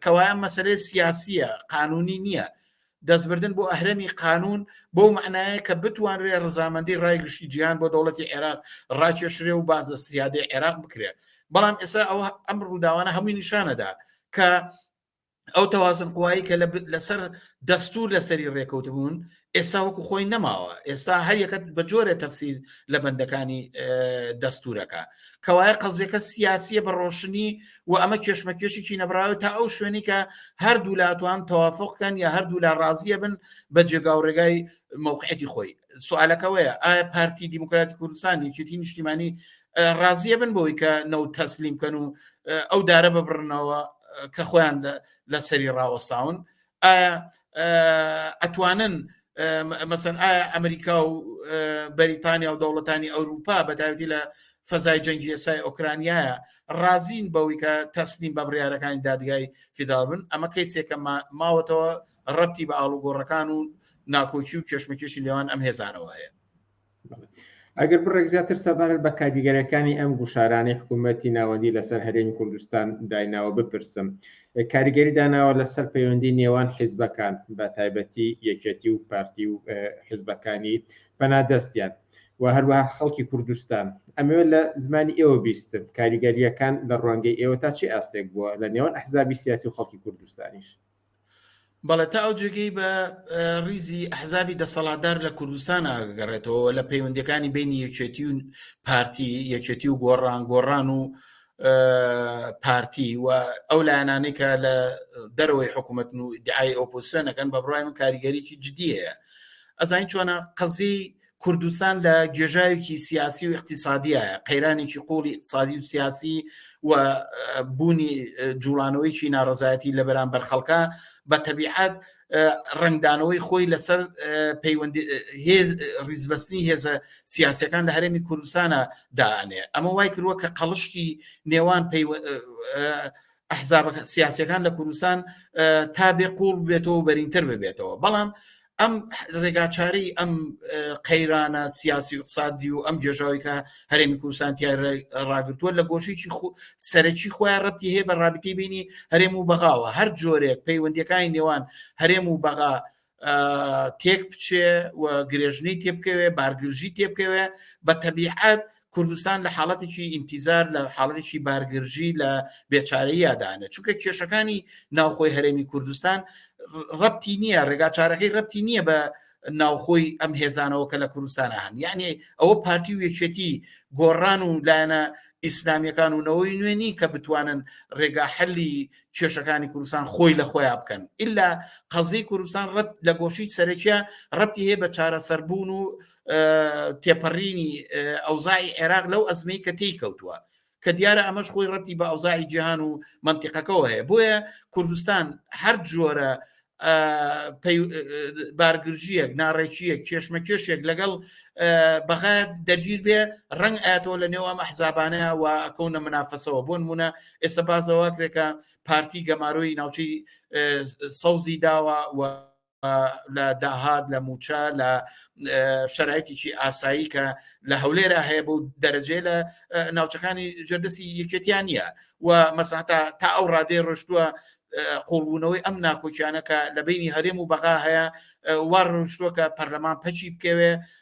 کەوایە مەسلەی سیاسیە قانونی نییە دەستبردن بۆ ئەهرەمی قانوون بەو مەعنایە کە بتوانرێ ڕزامەندی ڕای گشتی جیهان بۆ دەوڵەتی عێراق ڕاکێشرێ و باز لە سیادەی عێراق بکرێ بەڵام ئێستا ئەوە ئەم ڕووداوانە هەمووی نیشانەدا کە ئەو تەوازن قوایی کە لەسەر دەستور لەسەری ڕێکەوت بوون ئێستا وەکو خۆی نەماوە ئێستا هەریەکەت بە جۆرە تەفسیر لە بەندەکانی دەستورەکە کەوایە قەزیەکە سیاسیە بە ڕۆشنی و ئەمە کێشمەکێشێکی نەبراوە تا ئەو شوێنی کە هەردوو لاتوان تەوافقکەن یا هەردوو لا ڕازیە بن بە جێگا و ڕێگای موقعەتی خۆی سوالەکەوەیە ئایا پارتی دیموکراتی کوردستان یەکێتی نیشتیمانی ڕازیە بن بۆی کە نەو تەسلیم کەن و ئەو دارە ببڕنەوە کە خۆیان لەسەری ڕاوەستاون ئایا ئەتوانن مەسەن ئایا ئەمریکا و بەریتانیا و دەوڵەتانی ئەوروپا بەتاوتی لە فەزای جەنگی ئێسای ئۆکرانیایە ڕازین بەوەی کە تەسلیم بە بڕارەکانی دادگای فیدال بن ئەمە کەیسێکە ماوەتەوە ڕەتی بە ئاڵوگۆڕەکان و ناکۆکی و کێشمەکێشی لێوان ئەم هێزانەوە هەیە ئەگەر بڕێک زیاتر سەبارەت بە کاریگەرەکانی ئەم گوشارانەی حکوومەتتی ناوەندی لەسەر هەرێمی کوردستان دایناوە بپرسم کاریگەری داناوە لەسەر پەیوەندی نێوان حیزبەکان بە تایبەتی یەکێتی و پارتی و حیزبەکانی پەنادەستیان و هەروەها خەڵکی کوردستان ئەمەوێ لە زمانی ئێوە بیستم کاریگەریەکان لە ڕوانگەی ئێوە تا چی ئاستێک بووە لە نێوان ئەحزابی سیاسی و خەڵکی کوردستانیش بەڵێ تا ئەو جێگەی بە ریزی ئەحزابی دەسەڵاتدار لە کوردستان ئاگەڕێتەوە لە پەیوەندەکانی بینی یەکێتی و پارتی یەکێتی و گۆڕان گۆڕان و پارتی و ئەو لایەنانەی کە لە دەرەوەی حکوومەت و دیعای ئۆپۆسیۆنەکەن بە بڕای من کاریگەریی جددیە ئەزانین چۆنە قەزی کوردستان لە گێژاوێکی سیاسی و اقتصادیە قەیرانێکی قوڵی اقتصادی و سیاسی و بوونی جوڵانەوەیکی ناڕزایەتی لە بەرامبەر خەڵکە بە تەبیعات ڕنگدانەوەی خۆی لەسەر پەیوەندی هێز ڕیزبەستنی هێزە سیاسەکان لە هەرێمی کوردستانە دانێ ئەمە وای کردووە کە قەڵشتی نێوان ئەحزاب سیاسەکان لە کوردستان تا بێ قوڵ بێتەوە بەرینتر ببێتەوە بەڵام ئەم ڕێگاچارەی ئەم قەیرانە سیاسی و اقتصادی و ئەم جێژاوی کە هەرێمی کوردستان تای ڕاگرتووە لە گۆشێکی سەرەکی خۆیان ڕەتی هەیە بە ڕابتی بینی هەرێم و بەغاوە هەر جۆرێک پەیوەندەکانی نێوان هەرێم و بەغا تێک بچێ و گرێژنی تێبکەوێ بارگرژی تێبکەوێ بە تەبیعات کوردستان لە حاڵەتێکی ئینتیزار لە حاڵەتێکی بارگرژی لە بێچارەیادانە چونکە کێشەکانی ناوخۆی هەرێمی کوردستان ڕەتی نییە ڕێگا چارەکەی ڕەتی نییە بە ناوخۆی ئەم هێزانەوە کە لە کوردستانە هەن یعنی ئەوە پارتی و یەکێتی گۆڕان و لایەنە ئیسلامیەکان و نەوەی نوێنی کە بتوانن ڕێگا حلی کێشەکانی کوردستان خۆی لە خۆیان بکەن ئللا قەزی کوردستان ڕەت لە گۆشی سەرەکیە ڕەتی هەیە بە چارەسەربوون و تێپەڕینی ئەوزای عێراق لەو ئەزمەی کە تێی کەوتووە کە دیارە ئەمەش خۆی ڕەتی بە ئەوزای جیهان و منتیقەکەەوە هەیە بۆیە کوردستان هەر جۆرە بارگرژیەک ناڕێکیەک کێشمە کێشێک لەگەڵ بەغا دەگیر بێ ڕنگ ئاتەوە لە نێوام ئەحزابانە و ئەکەونە منافەسەوە بۆن مونە ئێستا بازەواکرێکە پارتی گەمارۆی ناوچەی سەوزی داوە و لە داهات لە موچە لە شەرایتیی ئاسایی کە لە هەولێرا هەیە بۆ دەرەجێ لە ناوچەکانی ژێردەسی یەکێتیان نیە و مەساتا تا ئەو ڕادێ ڕشتووە قوڵبوونەوەی ئەم ناکۆکیانەکە لە بینی هەرێم و بەغا هەیە وا ڕشتووە کە پەرلەمان پەچی بکەوێ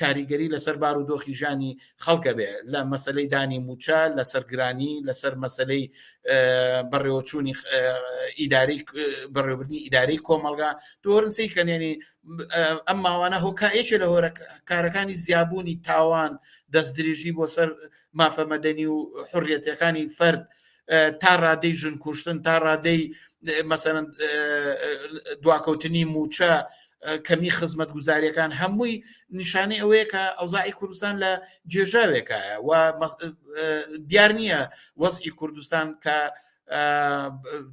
کاریگەری لەسەر بار و دۆخی ژیانی خەڵک ئەبێ لە مەسەلەی دانی مووچە لەسەر گرانی لەسەر مەسەلەی بەڕێوەچوونی ئیداری بەڕێوبردنی ئیداری کۆمەڵگا دۆرنسی کەنێنی ئەم ماوانە هۆکایەکێ لە هۆرە کارەکانی زیابوونی تاوان دەست درێژی بۆ سەر مافەمەدەنی و حڕەتەکانی فەرد تا ڕادەی ژن کوشتن تا ڕادەی مەسەرەن دواکەوتنی موچە کەمی خزمەت گوزاریەکان هەمووی نیشانەی ئەوەیە کە ئەوزاعی کوردستان لە جێژاوێکایە و دیار نییە وەسی کوردستان کە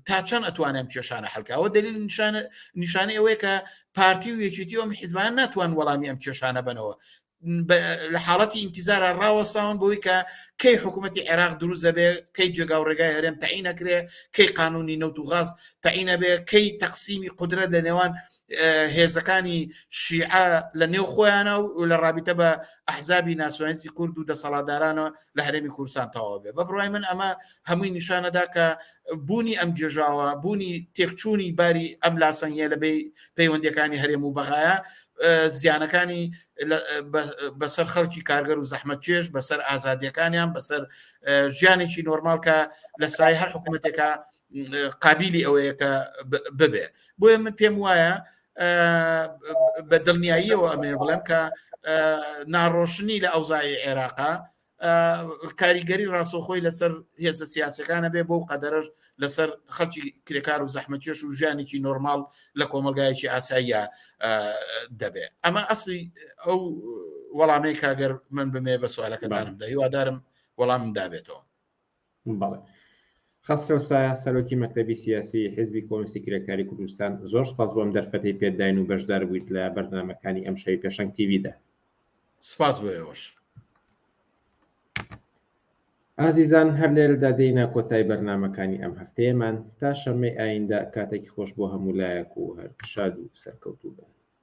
تا چەند ئەتوانم کێشانە حلکەوە دلیل نیشانە نیشانەی ئەوەیە کە پارتی و یەکێتی ئەم حیزبان ناتوان وەڵامی ئەم کێشانە بنەوە لە حاڵەتی ئینتیزارا ڕاوەستاون بەوەی کە کەی حکوومەتی عێراق دروست دەبێ کەی جێگا و ڕێگای هەرێم تەعین ئەکرێ کەی قانونی نەوت و غاز تەعین ئەبێ کەی تەقسیمی قودرەت لە نێوان هێزەکانی شیعە لە نێو خۆیانە و لە ڕابیتە بە ئەحزابی ناسیۆنالیستی کورد و دەسەڵاتدارانەوە لە هەرێمی کوردستان تەواو بێ بە بڕای من ئەمە هەمووی نیشانەدا کە بوونی ئەم گێژاوە بوونی تێکچوونی باری ئەم لاسەنگە لە بێ پەیوەندەکانی هەرێم و بەغایە زیانەکانی بەسەر خەڵکی کارگەر و زەحمە چێش بەسەر ئازادیەکانیان بەسەر ژیانێکی نۆرمالکە لە سای هەر حکوومەتێکە قابلی ئەوەیە کە ببێ بۆیە من پێم وایە بە دڵنیاییەوە ئەمێ بڵێم کە ناڕۆشنی لە ئەوزای عێراقا کاریگەری ڕاستەخۆی لەسەر هێزە سیاسەکانە بێ بۆ و قەدەرش لەسەر خەڵکی کرێکار و زەحمەتێش و ژیانێکی نۆرمال لە کۆمەلگایەکی ئاساییە دەبێ ئەمە ئەسلی ئەو وەڵامەی کاگەر من بمێ بە سوالەکەدانمدا هیوادارم وەڵام دابێتەوە بەڵێ خەسرەو سایە سەرۆکی مەکتەبی سیاسی حزبی کۆنسی کرێکاری کوردستان زۆر سپاس بۆم دەرفەتی پێداین و بەشدار بوویت لە بەرنمەکانی ئەم شەوی پێشنگ تیویدا سپاس بۆ ئێوەش ئازیزان هەر لێرەدا دێینە کۆتای بەرنمەکانی ئەم هەفتەیەمان تا شەمەی ئایندە کاتێکی خۆش بۆ هەموو لایەک و هەر شاد و سەرکەوتوو بن